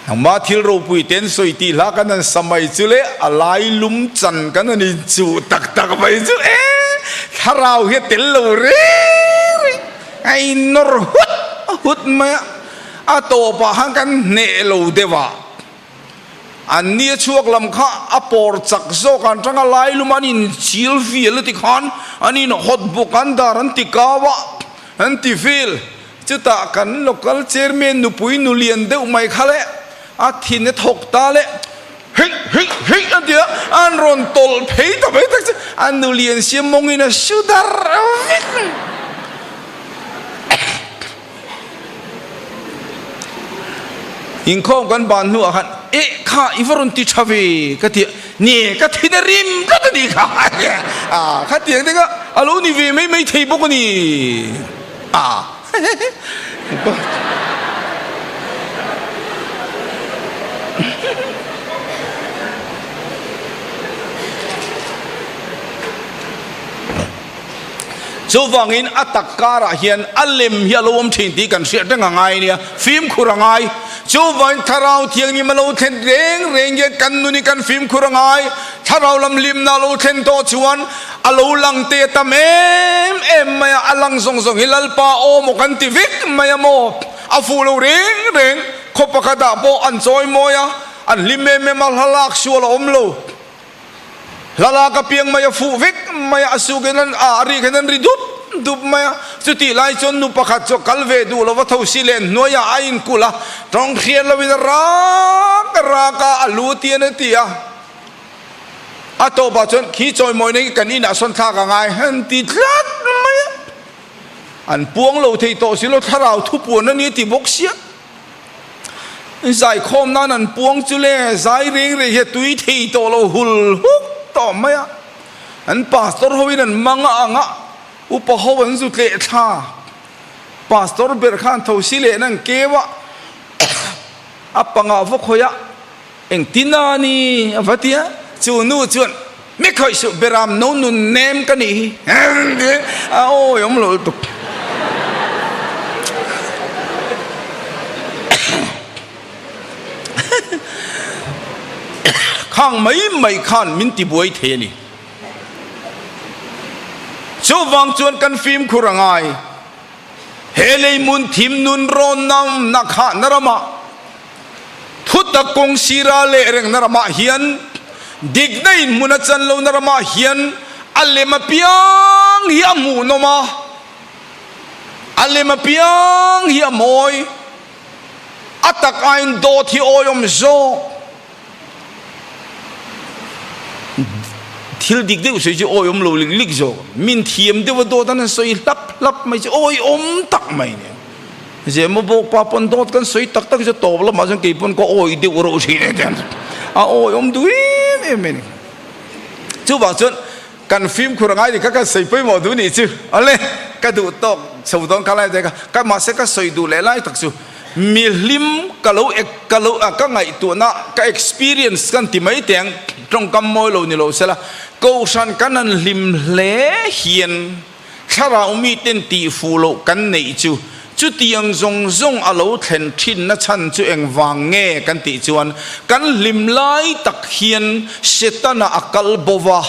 Nangma thil ropui ten sawi tih hla ka nan sa mai chu le a lai lum chan ka nan in chuh tak tak mai chu eh. Thlarau hi a tel lo reng reng a in nawr hut hut mai a, a tawp ah khan kan hneh lo deuh a. An nia chhuak lam kha a pawr chak zawk ang tang a, Lai lum an in chil fial a ti khan an in hot bawk ang dar an ti kau a, an ti fil. Chutah kan local chairman nupui nulian deuh mai kha leh a thin a thawk ta leh Hei! Hei! Hei! an ti a, an rawn tawlh phei ta mai tak chu a nulian siam mawngin a hriu dar vek. Inkhawm kan ban hnuah khan, Eh, kha i va rawn ti tha ve, ka ti a. Nge ka thin a rim tlat a ni kha a kha ti ang teng a, a lo ni ve mai mai thei bawk a ni a. Chuvangin a tak karah hian a lem hi a lo awm thin tih kan hriat reng a ngai nia, fimkhur a ngai. Chuvangin Thlarau Thianghlim a lo thlen reng reng hian kan nun hi kan fimkhur a ngai. Thlarau lam limna a lo thlen tawh chuan a lo lang te ta em em mai a, a lang zawng zawng hi Lalpa aw maw kan ti vek mai a maw? A fuh lo reng reng, khaw pakhatah pawh an chawi mawi a, an hlim em em a, hla lak sual a awm lo. Hla lak a piang mai a fuh vek mai a, a suk in an ah a ri khan an ri dup dup mai a, chutih lai chuan nu pakhat chu a kal ve duh lo va tho si len hnuai ah a in kulh a, tawng hriat lo in a rak a rak a, a lu ti an a ti a, a tawp ah chuan khi chawimawi na hi kan in ah sawn thlak a ngai han ti tlat mai a, an puang lo thei tawh si lo thlarau thupuan a ni a ti bawk sia. Zaikhawm nan an puang chu le zai reng reng hian tui thei tawh lo hul huk tawh mai a. An pastor ho in an mang a ang a, upa ho an zut leh thla. Pastor ber khan thosi lehna an keu a, a panga vaw khawih a. Eng tina ni? a va ti a, chu nu chuan mi khawih suh beram no nun nem ka nih hi em ti a awi awm lo lutuk. Khang mai mai khan min ti buai thei a ni. Chuvang chuan kan fimkhur a ngai, he leimun thim nun rawn na khahna ramah, Thutak kawng sira leh rengna ramah hian dikna inhmun a chan lohna ramah hian a lem apiang hi a hmuhnawm a, a lem apiang hi a mawi. A tak aiin dawt hi awiawm zawk. thil dik deuh sawi chu awiawm lo lik lik zawk min thiam deuh a dawt a nan sawi hlap hlap mai chu awiawm tak mai nen zirmaw bawkpa pawn dawt kan sawi tak tak chu tawp lamah chuan kei pawn ka awi deuh rawh thin e tiang a awiawm duh em em mai ni chuvang chuan kan fimkhur angai leh kha kan sawi pawimawh duh nih chu awle ka duh tawk chho dawn kha lai a dek a mahse ka sawi duh leh lai tak chu Mi hlim ka lo ka lo ka ngaih tuhna ka experience kan ti mai te ang tawngkam mawi lo ni lo sela kohhran kan han hlim hle hian thlarau mi ten tih fuh loh kan neih chu chuti ang zawng zawng a lo thlen thin na chhan chu engvang nge kan tih chuan kan hlim lai tak hian setana a kal baw a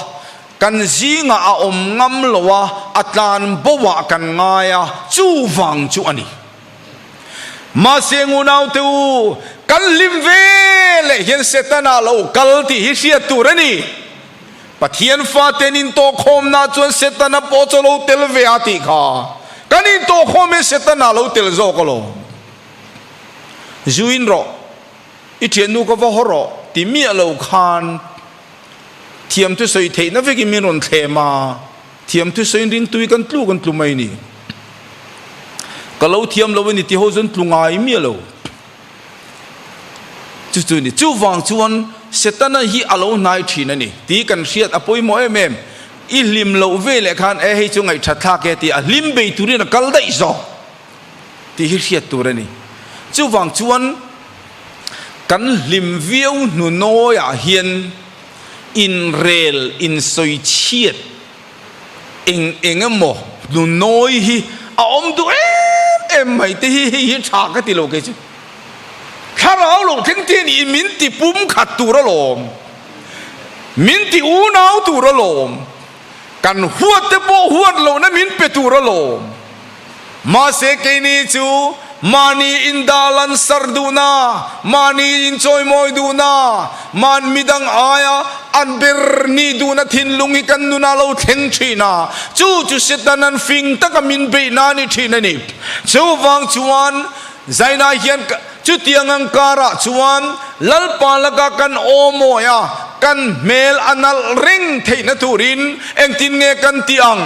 kan zingah a awm ngam lo a a tlan baw ah kan ngai a chuvang chu a ni. Mahse eng unaute u kan hlim ve leh hian Setana lo kal tih hi hriat tur a ni. Pathian Fate'n intawhkhawmna chuan Setana pawh chu lo tel ve a tih kha kan intawhkhawm e Setana lo tel zawk alawm. Zuin rawh, i thiannu ka va haw rawh ti miah lo khan thiamtu sawi theihna vekin min rawn thlem a. Thiam thusawiin ringtui kan tlu kan tlu mai ni. Ka lo thiam lo a ni tih ho chuan tlu ngai miah lo. Chu chu ni. Chuvang chuan Setana hi a lo hnai thin a ni tih kan hriat a pawimawh em em. I hlim loh veleh khan e hei chu ngaihṭha thlak e tih a hlim bei turin a kal daih zawk. tih hi hriat tur a ni. Chuvang chuan kan hlim viau hnu nawiah hian inrel insawi chhiat eng eng emaw hnu nawi hi a awm duh em em mai te hi hei hi tha ka ti lo kei chu. Thlarau lo thleng te nih i min ti pumkhat tur a lawm, min ti unau tur a lawm. Kan huat te pawh huat lo na min pe tur alawm. Mahse kei ni chu mahni in dah lansar duhna, mahni in chawimawi duhna, mahn midang aia an ber ni duhna thinlung hi kan nuna lo thleng thin a, chu chu se tan an fing taka min beihna a ni thin a ni. Chuvang chuan. Zainah hian ka, chutiang ang karah chuan Lalpa laka kan awm awi a, kan hmel a nalh reng theihna turin engtin nge kan tih ang?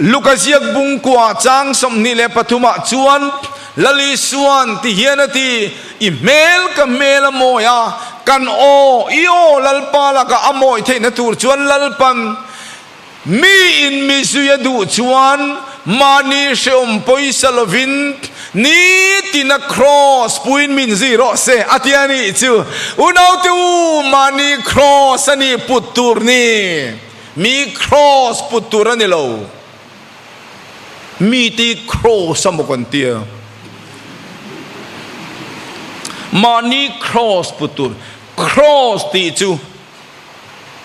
Luka ziak bung kua chang sawmhnih leh pathumah chuan Lali suan ti hian a ti, I hmel ka hmel a mawi a, kan aw, i aw Lalpa laka a mawi theihna tur chuan Lalpan. Mi in mizui a duh chuan mahni hrehawm pawisa lovin ni tina kraws puiin min zui rawh se a ti a nih chu. Unaute u, mahni kraws a nih put tur ni? Mi kraws put tur a ni lo. Mite kraws amaw kan ti a? Mahni kraws put tur. Kraws tih chu.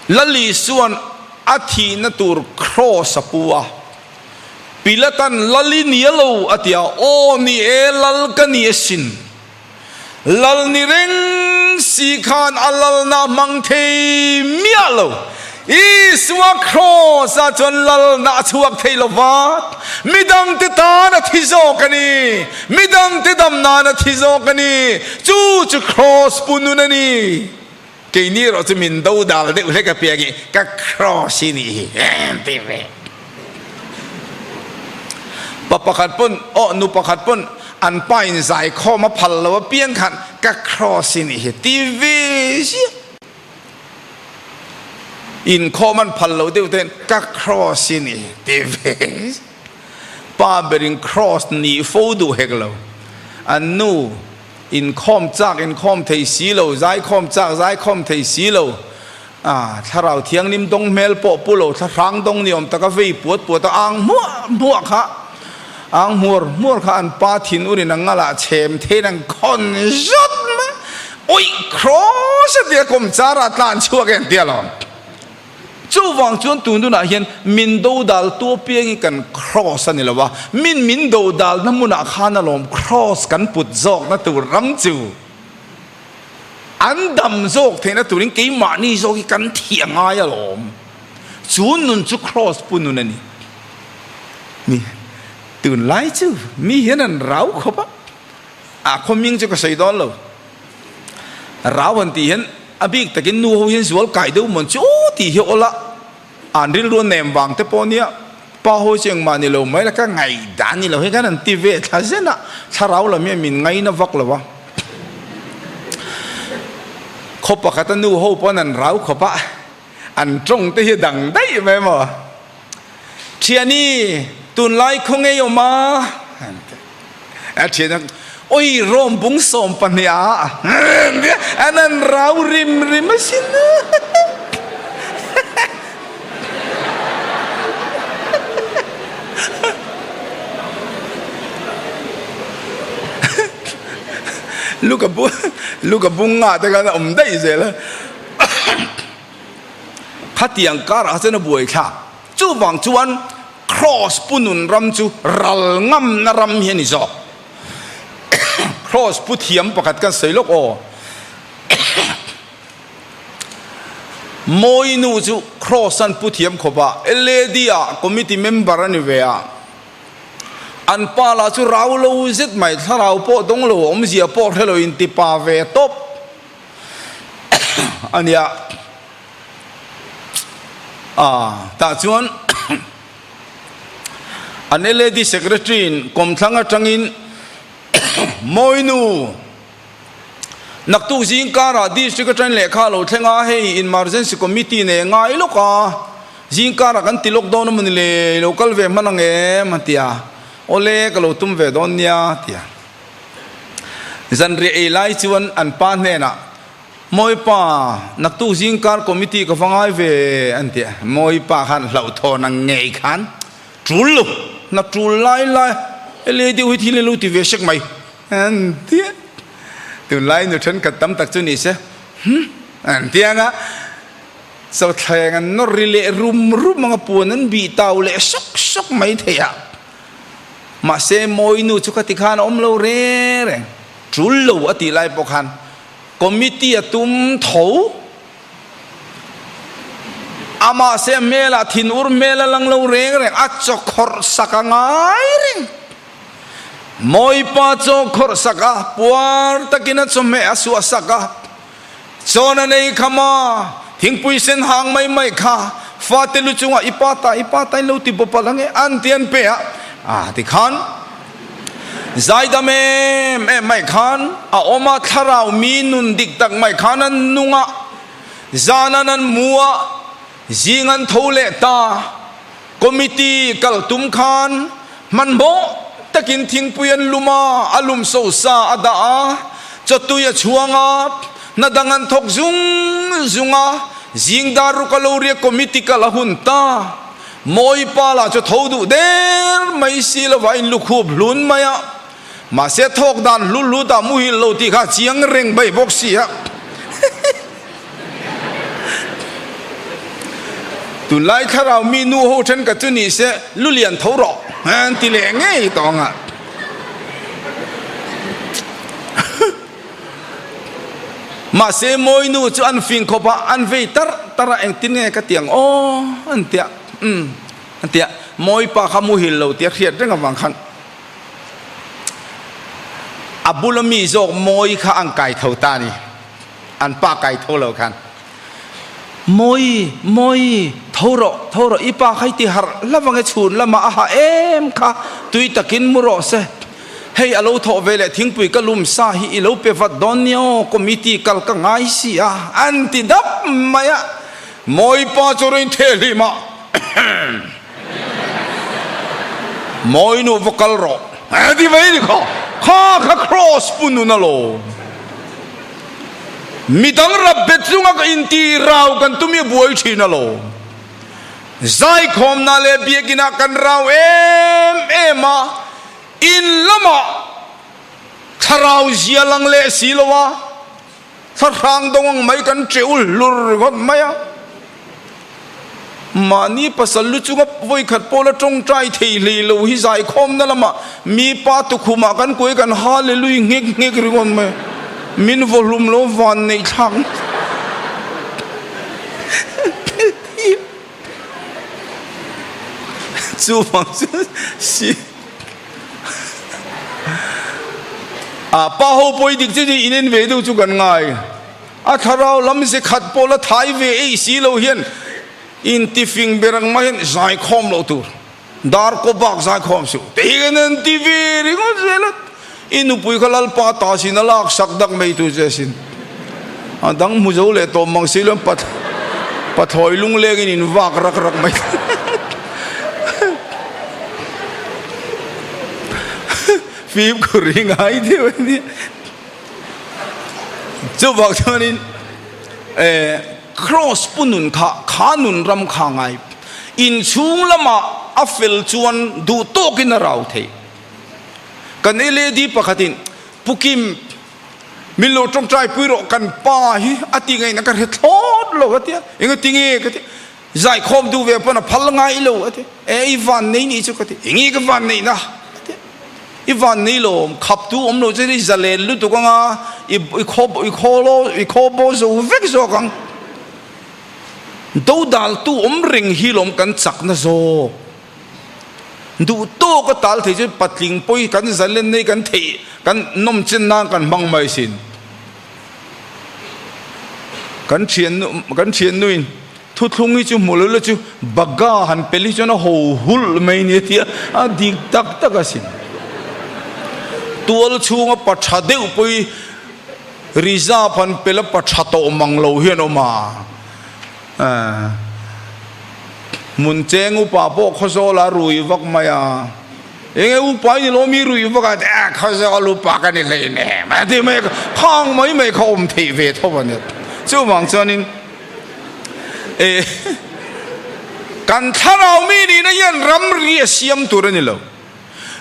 Lali chuan a thihna tur kraws a pu a. Pilatan, Lal i nia lo, a ti a. Aw, ni e, Lal ka ni a sin. Lal ni reng si khan a lalnaa hmang thei miah lo. Isua kraws ah chuan lalnaa a chhuak thei lo va. Midang te tan a thi zawk a ni. Midang te dam nan a thi zawk a ni. Chu chu kraws pu nun a ni. Kei ni erawh chu min do dal deuh hle ka piangin ka cross hi nih hi em tih ve. Pa pakhat pawn aw nu pakhat pawn an pa in zai khawm a phal lo apiang khan ka cross hi nih hi ti ve zia. In khawm an phal lo deuh ten ka cross hi nih hi ti ve zia. Pa berin cross ni fo duh hek lo. A nu. Inkhawm chak inkhawm thei si lo, zaikhawm chak zaikhawm thei si lo. Aah, Thlarau Thiangnim dawng hmel pawh pu lo thlahrang dawng ni awm taka vei puat puat a ang hmuah hmuah kha, ang hmuar hmuar kha an pa thin urin a ngal ah chhem thein an khawn zat mai. Awih! Krawsa tia kawmchar ah tlan chhuak em tia lo. Chuvang chuan tununa hian min do dal tua piangin kan Kraws a ni lo a, min min do dalna hmunah khan alawm Kraws kan put zawkna tur ram chu an dam zawk theihna turin keimahni zawk hi kan thih a ngai alawm. Chu nun chu Kraws pu nun a ni. Ni. Tunlai chu mi hian an rau khawp a. A khaw hming chu ka sawi dawn lo. Rau han tih hian a bik takin nu ho hian zual kai deuh mawn chu tih hi awla an rilru a nem vang te pawh nia pa ho chu engmah ni lo mai la ka ngaih dan ni lo hei khan an ti ve thla zen a thlarau lam hi a min ngai na vak lo a. Khaw pakhat a nu ho pawn an rau khawp a. An tawngte hi a dang daih mai maw? Thiani, tunlai khawngei awm a, an ti a. Thiania, Awi rawm bung sawm pahnih a, an ti a. An han rau rim rim a sin a. Luka bung luka bung ngah te khan a awm daih zel a. khatiang karah chuan a buai thla. Chuvang chuan Kraws punun ram chu ral ngamna ram hi a ni zawk. Kraws pu thiam pakhat kan sawi lawk aw. Mawinu chu Kraws an pu thiam khawp a, LAD-a committee member a ni ve a. An pa lah chu rau lo zet mai, thlarau pawh dawng lo awmzia pawh hrelo intipa ve tawp. a nia ah tah chuan an lad secretary in kawmthlang atangin mawinu naktuk zing karah district atangin lehkha a lo thleng a hei emergency committee nen ngai lawk a zing karah kan ti lawk dawn a mawni le lo kal ve hman ang em a ti a awle ka lo tum ve dawn nia a ti a. Zanriah ei lai chuan an pa hnenah, Mawipa, naktuk zingkar committee ka va ngai ve an ti a, Mawipa khan hlauhthawn a ngei khan, Tul lu, hna tul lai lai a, he lady-u hi thil a lu ti ve hrek mai an ti a, tunlai nu thenkhat tam tak chu ni se hum an ti ang a, Chawthleng an nawr ri leh rum rum ang a, puan an bih tau leh hrek hrek mai thei a. Mahse Mawinu chu khati khan a awm lo reng reng. Tul lo a tih lai pawh khan committee a tum tho a. Mahse a hmelah thin ur hmel a lang lo reng reng. A chaw khawrh sak a ngai reng. Mawipa chaw khawrh sak a, puar takin a chawhmeh a suah sak a. Chuan a nei kham a, Thingpui sen hang mai mai kha fate lu chungah i pa ta, i pa ta in lo ti bawpalh ang e, an ti an pe a, a ti khan Zaidam em em mai khan a awm a, Thlarau mi nun dik tak mai khan an nung a, zan an an mu a, Zing an tho leh ta, committee kal tum khan hmanhmawh takin thingpui an lum a, a lum sosa a dah a, chawtui a chhuang a, hna dang an thawk zung zung a, zing dar ruk a lo riak committee kal a hun ta, Mawipa lah chu tho duh der mai si lova in lukhup hlun mai a. Mahse thawk dan hlul lut ah muhil lo tih kha chiang reng bai bawk sia. Tunlai thlarau mi nu ho then ka tu ni se, lu lian tho rawh an ti leh ngei tawng a. Mahse mawi nu chu an fing khawp a, an vei tar tar a, engtin nge ka tiang aw an ti a, umm an ti a, mawipa kha muhil lo tia hriat reng avang khan. a bula mi zawk mawi kha an kai tho ta ni an pa kai tho lo khan mawi mawi tho ro tho ro i pa khai ti har lawange chhun lama a ha em kha tui takin mu ro se hei alo tho ve le thingpui ka lum sa hi i lo pe vat don nia aw committee kal ka ngai si a an ti dap mai a mawi pa chu rin the hlima Mawi nu va kal rawh. He ti mai ni kha, kha kha cross pu nun a law. Midang rap bet zunga ka inti rau kan tum i a buai thin a law. Zaikhawmna leh biakin ah kan rau em em a, in lamah thlarau zia lang leh si lo a. Thlahrang dawng ang mai kan ṭeul hlur ngawt mai a, mahni pasal lu chunga vawikhat pawla ṭawngṭai thei hlei lo hi zaikhawmna lama mi pa tukhumah kan kuai kan hallelui nghek nghek ri ngawt mai a, min vawhlum lo vanneihthlak chu vang chuan si. a pa ho pawi dik chu ni in en ve deuh chu kan ngai a thlarau lam ze khat pawh la thai ve eih si lo hian in ti fing ber ang mahin zai khawm loh tur dar kaw bak zai khawm si te hian an ti ve ringawt zel a. I nupui kha Lalpa ta sin a lak sak dak mai tur che sin. A dang hmu zo leh tawh mang si lo, pa thlawi lungleng in in vak rak rak mai. Fim khaw ri ngai deuh a nia. Chuvak chuan in eh Kraws pu nun kha kha nun ram kha ngai in chhung lamah a fel chuan duh tawk in a rau thei. Kan Lady pakhatin, Pu Kim, min lo tawngtai pui rawh, kan pa hi a tingaina ka hre thlawt lo a tia. Eng a ti nge ka ti, zai khawm duh ve pawn a phal ngai lo a ti. E i van nei ni chu ka ti, eng nge ka van nei na a ti. I van nei lo awm, khap duh awm lo chuan i zalen lutuk anga i i khaw i khaw lo i khaw bo zo vek zawk ang. Dodaltu awm reng hi lawm kan chakna zawk. Duh tawk a tal thei chuan patling pawi kan zalen nei kan theih kan nawm chen nan kan hmang mai sin. Kan thian kan thiannuin thuthlung hi chu hmu lohla chu baga han pel hi chuan a ho hulh mai nia tia a dik tak tak a sin. Tual chhunga pa tha deuh pawi reserve han pela pa tha tawh mang lo hian awm a. Aaa. Mun cheng upa pawh khawzawla rui vak mai a, eng nge upa i ni loh mi rui vak a, a khawzawl upa ka ni hlein em a ti mai a, khang mai mai kha awm theih ve tho a ni. Chuvang chuanin e kan thlarau mi nihna hian ramri a siam tur a ni lo,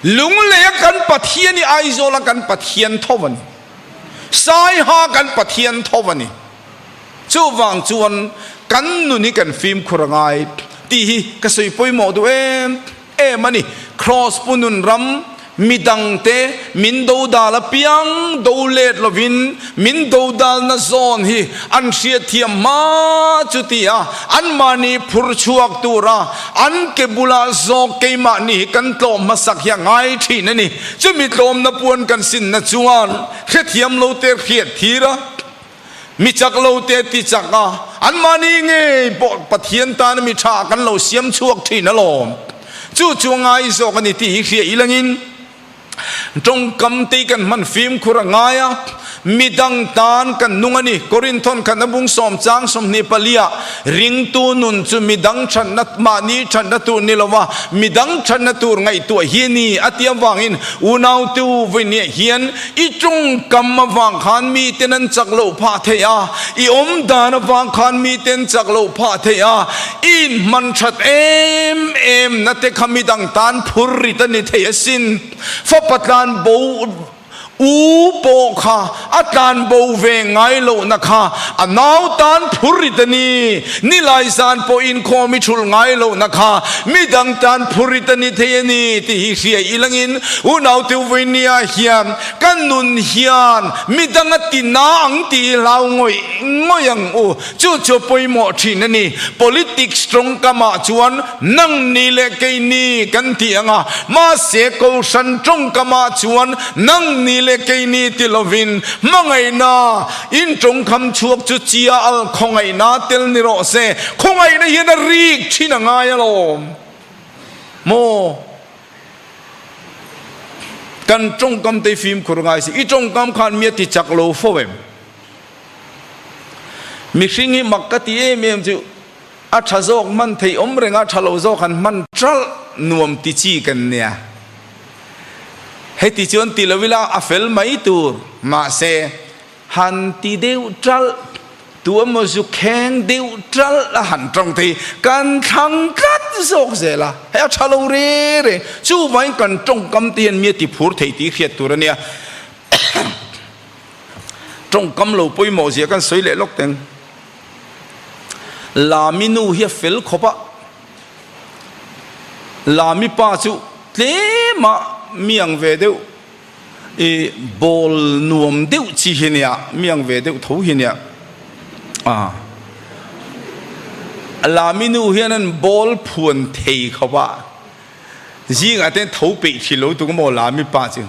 lungleia kan Pathian i Aizawla kan Pathian tho a ni, Saiha kan Pathian tho a ni. Chuvang chuan kan nun hi kan fimkhur a ngai tih hi ka sawi pawimawh duh em em a ni. Kraws pu nun ram mi dangte min do dal apiang do let lovin min do dalna zawn hi an hriatthiam hma chutia anmahni phur chhuak tura an ke bula zawk keimahni hi kan tlawm hmasak hi a ngai thin a ni. Chumi tlawmna puan kan sinna chuan hrethiam lo te hriatthira Mi chak lo te ti chak a, anmahni ngei pawh Pathian tana mi tha kan lo siam chhuak thin alawm. Chu chu a ngai zawk a ni tih hi hria i langin tawngkamte kan hman fimkhur a ngai a, mi dang tan kan nung a ni. Korinthon khatna bung sawm chang sawmhnih palia ringtu nun chu mi dang thatna mahni thatna tur ni lo a, mi dang thatna tur ngaihtuah hi a ni a ti avangin unautu vawinia hian, I tawngkam avang khan miten an chak loh phah theih a, i awmdan avang khan miten chak loh phah theih a, i inhmanṭhat em em na te kha midang tan phur rit a ni theih asin. Fapa tlan bo u pawh kha a tlan bo ve ngai lohna kha a nau tan phur rit a ni. Ni lai zan pawhin khawm i chhul ngai lohna kha mi dang tan phurit a ni thei a ni tih hi hria i langin Unaute Uveinia hian Ka nun hian mi danga tina ang ti i hlau ngawih ngawih ang u, chu chu pawimawh thin a ni. Politics tawngkam ah chuan nang ni leh kei ni kan ti ang a, mahse Kohhran tawngkam ah chuan nang ni leh kei ni ti lovin hmangaihna, In tawngkham chhuak chu chia al khawngaihna a tel ni rawh se, khawngaihna hian a rik thin a ngai alawm maw? Kan tawngkam te i fimkhur ngai se, i tawngkam khan mi a ti chak lo fo em? Mihring hi mak ka ti em em chu A tha zawk hman theih awm reng a, tha lo zawk han hman ṭalh nuam ti chi kan nia. Heti chuan ti lo ila a fel mai tur. Mahse, han ti deuh ṭalh, tu emaw zukheng deuh ṭalh a han ṭawng thei. Kan thlang tlat zawk zel a, hei a tha lo re re. Chuvangin kan ṭawngkam te hian mi a tiphur thei tih hriat tur a nia. Ṭawngkam lo pawimawh zia kan sawi leh lawk teng. Lami nu hi a fel khawp a, Lami pa chu tlem a miang ve deuh i bawl nuam deuh chi hi nia, miang ve deuh tho hi nia. Aa. Lami nu hian an bawl phuan thei khawp a, zingatin tho peih thin lo tuk maw Lami pa chu.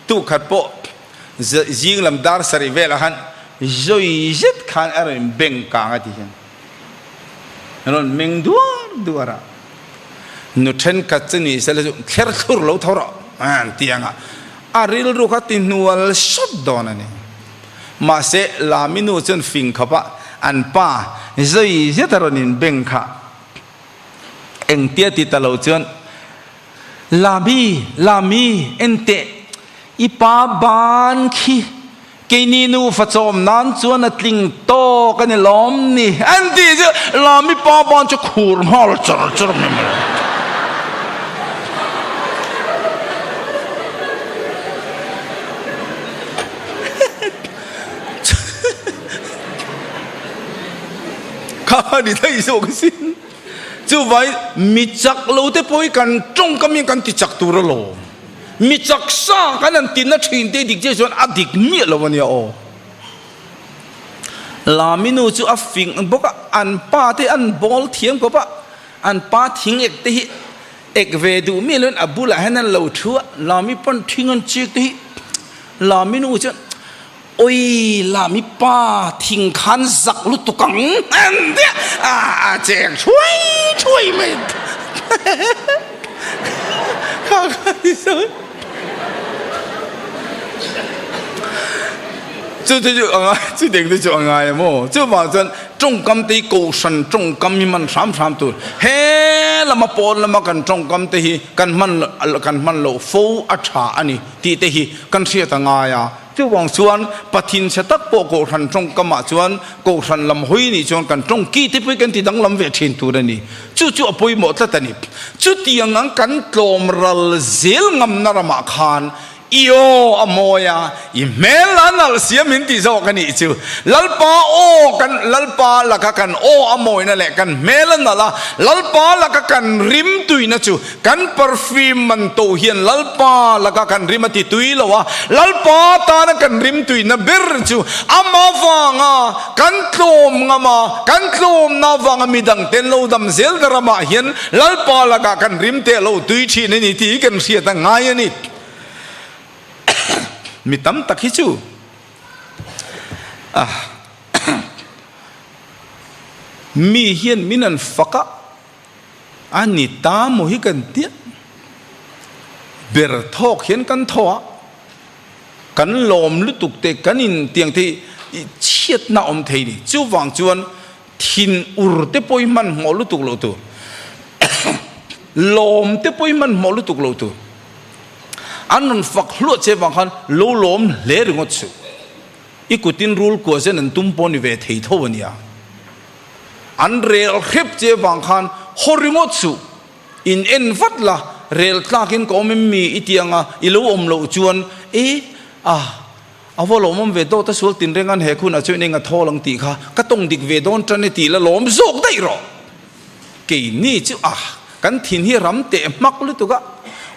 Tukhat pawh. zinglam dar sarih velah han zawi zet khan a rawn beng kang a ti hian a rawn meng duar duar a, nu thenkhat chu ni sela chu thler thlur lo tho rawh a han ti ang a, a rilru kha ti hnual sawt dawn a ni. Mahse Laminu chuan fing khawp a an pa zawi zet a rawn inbeng kha. Engtia ti ta lo chuan, Lami, Lami, enteh, i pa ban khi keini nufa chawm nan chuan a tling tawk a ni lawm ni? an tih chu Lami pa ban chu khur nghal char char mai mai a. Kha ni thei zawk a si. Chuvai mi chak lo te pawh hi kan tawngka miah kan ti chak tur a lawm. Mi chak sa kan han tinna thin te dik chiah chuan a dik miah lo a nia aw. Laminu chu a fing bawk a, an pa te an bawl thiam khawp a, an pa thing ek te hi Ek ve duh miah leh in a bulah hian an lo thu a, Lami pa'n thing an chêk te hi. Lami nu chuan, Awi, Lami pa, thing khan zak lutuk ang endiah a chêk thuai thuai mai. chu chu chu anga chu deng te chu a ngai a maw chu vang chuan tawngkam te hi kohhran tawngkam hi man hram hram tur he lama pawn lama kan tawngkam te hi kan hman kan hman loh fo a tha a ni tih te hi kan hriat a ngai a Chuvang chuan pathin chhe tak pawh kohhran tawngkam ah chuan kohhran lam hawi nih chuan kan tawngki te pawh kan ti danglam ve thin tur a ni. Chu chu a pawimawh tlat a ni. Chutiang ang kan tlawm ral zel ngamna ramah khan Iaww a mawi a, i hmel la nalh sia min ti zawk a nih chu. Lalpa aw kan Lalpa laka kan aw a mawina leh kan hmel a nalh a Lalpa laka kan rim tuina chu Kan perfume man tawh hian Lalpa laka kan rim a ti tui lo a, Lalpa tana kan rim tuihna ber chu ama vanga kan tlawm ngam a, kan tlawmna vanga mi dangten lo dam zel na ramah hian Lalpa laka kan rim teh lo tui thin a ni tih hi kan hriat a ngai a ni. Mi tam tak hi chu mi hian min an fak a, A ni ta maw hi kan ti a, ber thawk hian kan tho a, kan lawm lutuk te kan in tiang te hi chhiatna awm thei ni. Chuvang chuan thin ur te pawh hi hman hmawh lutuk lo tur, lawm te pawh hi hman hmawh lutuk lo tur an rawn fak hluah che vang khan lo lawm hle ringawt suh, i kutin rul kuah zet an tum pawh ni ve thei tho a nia. An rel hrep che vang khan haw ringawt suh, in en vat la, rel tlak in ka awm em mi i tiang a, i lo awm loh chuan e a a va lawmawm ve tawh ta sual tin reng an he khun a chuan eng a thawl ang tih kha ka tawng dik ve dawn tan e tih la lawm zawk daih rawh. Kei ni chu a kan thin hi ram teh hmak lutuk a,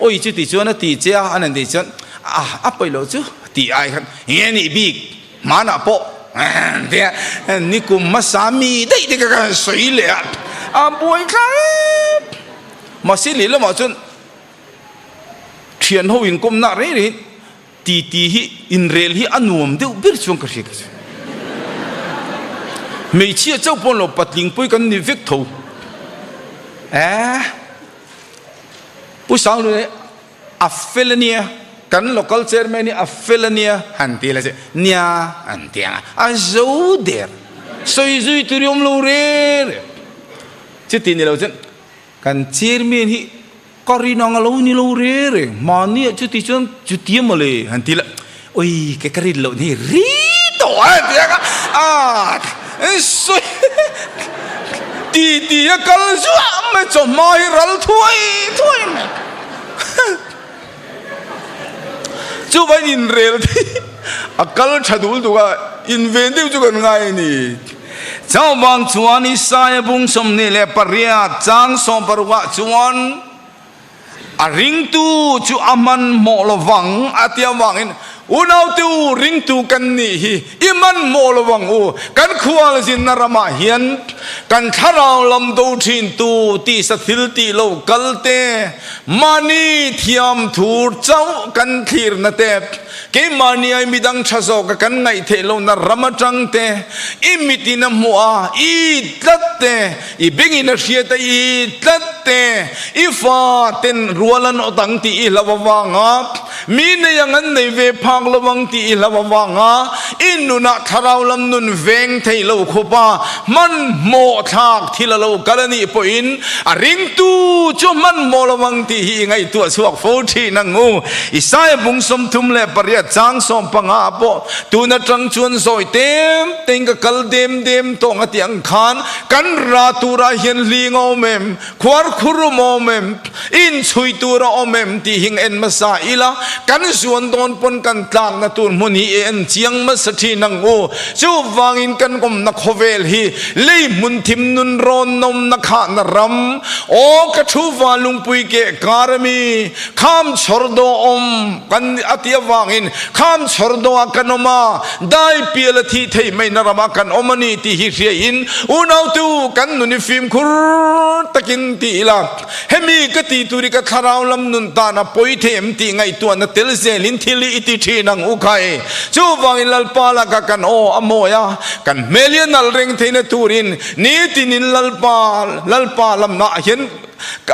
awi chu ti chuan a ti che a, a nandei chuan a a paih loh chu a ti ai khan eng e a nih bik. Hmanah pawh emm tia nikum hmasa mi daih te ka ka han sawi leh a, a buai tlar em! Mahse leh lamah chuan thian ho inkawmna rei rei titi hi inrel hi a nuam deuh ber chuang ka hria ka ti. Hmeichhia chauh pawn lo patling pawih kan ni vek tho. Eeh Pu Sanglun e. A fel a nia, kan local chairman hi a fel a nia han ti la che, nia an ti ang a, a zo der, sawi zui tur hi awm lo rêr e, chuti ni lo chuan kan chairman hi ka rin ang a lo ni lo rêr e, mahni ah chuti chuan chutia mawle han ti la. Ui kei ka rin loh ni ri tawh a ti a a in sawi ti ti a kal zuah mai chawhma hi ral thuai thuai mai chumain inrel te hi a kal tha dul dul a inven deuh chu kan ngai a ni chauhvang chuan isaia bung sawmhnih leh pariat chang sawmpar ruah chuan. A ringtu chu a hmanhmawh lo vang a ti avangin, Unaute u, ringtu kan nih hi i hmanhmawh lo vang u, kan khualzinna ramah hian kan thlarau lam do thintu tisa thil tih lo kalte, mahni thiam thur chauh kan thlirna te, keimahniai midang tha zawka kan ngaih theih lohna ram atangte, i mitin a hmuh a, i tlat te, I bengin a hriat a i tlat te, i fa ten rual an awt ang tih i hlau avanga, mi nei ang an nei ve phak lo ang tih i hlau avanga, i nun ah thlarau lam nun veng theih lo khawp a, hmanhmawh thlak thil a lo kal a nih pawh in, a ring tu chu hmanhmawh lo ang tih hi i ngaihtuah chhuak fo thin ang u. Isaiah bung sawmthum leh pariat chang sawm panga ah pawh tun atang chuan zawih tem tein ka kal dem dem tawh ang a tih ang khan, Kan ra turah hian hling a awm em, khuar khurum a awm em, inchhui tur a awm em tih hi en hmasa ila, kan zuan dawn pawn kan tlakna tur hmun hi i en chiang hmasa thin ang u. Chuvangin kan awmna khawvel hi lei hmun thim nun rawn nawmna khahna ram aw ka thuva lungpui keh kar ami. Kham chhawr daw awm kan a ti avangin kham chhawr daw ah kan awm a, dai piala thih theih maina ram ah kan awm a ni tih hi hria in Unaute u kan nun i fimkhur takin ti ila, hemi ka ti tur i ka thlarau lam nun tan a pawi thei em tih ngaihtuah na tel zel in thil i ti thin ang u khai. Chu vangin Lalpa lak ah kan aw a mawi a, kan hmel i a nal reng theihna turin nitinin Lalpa Lalpa lam ah hian ka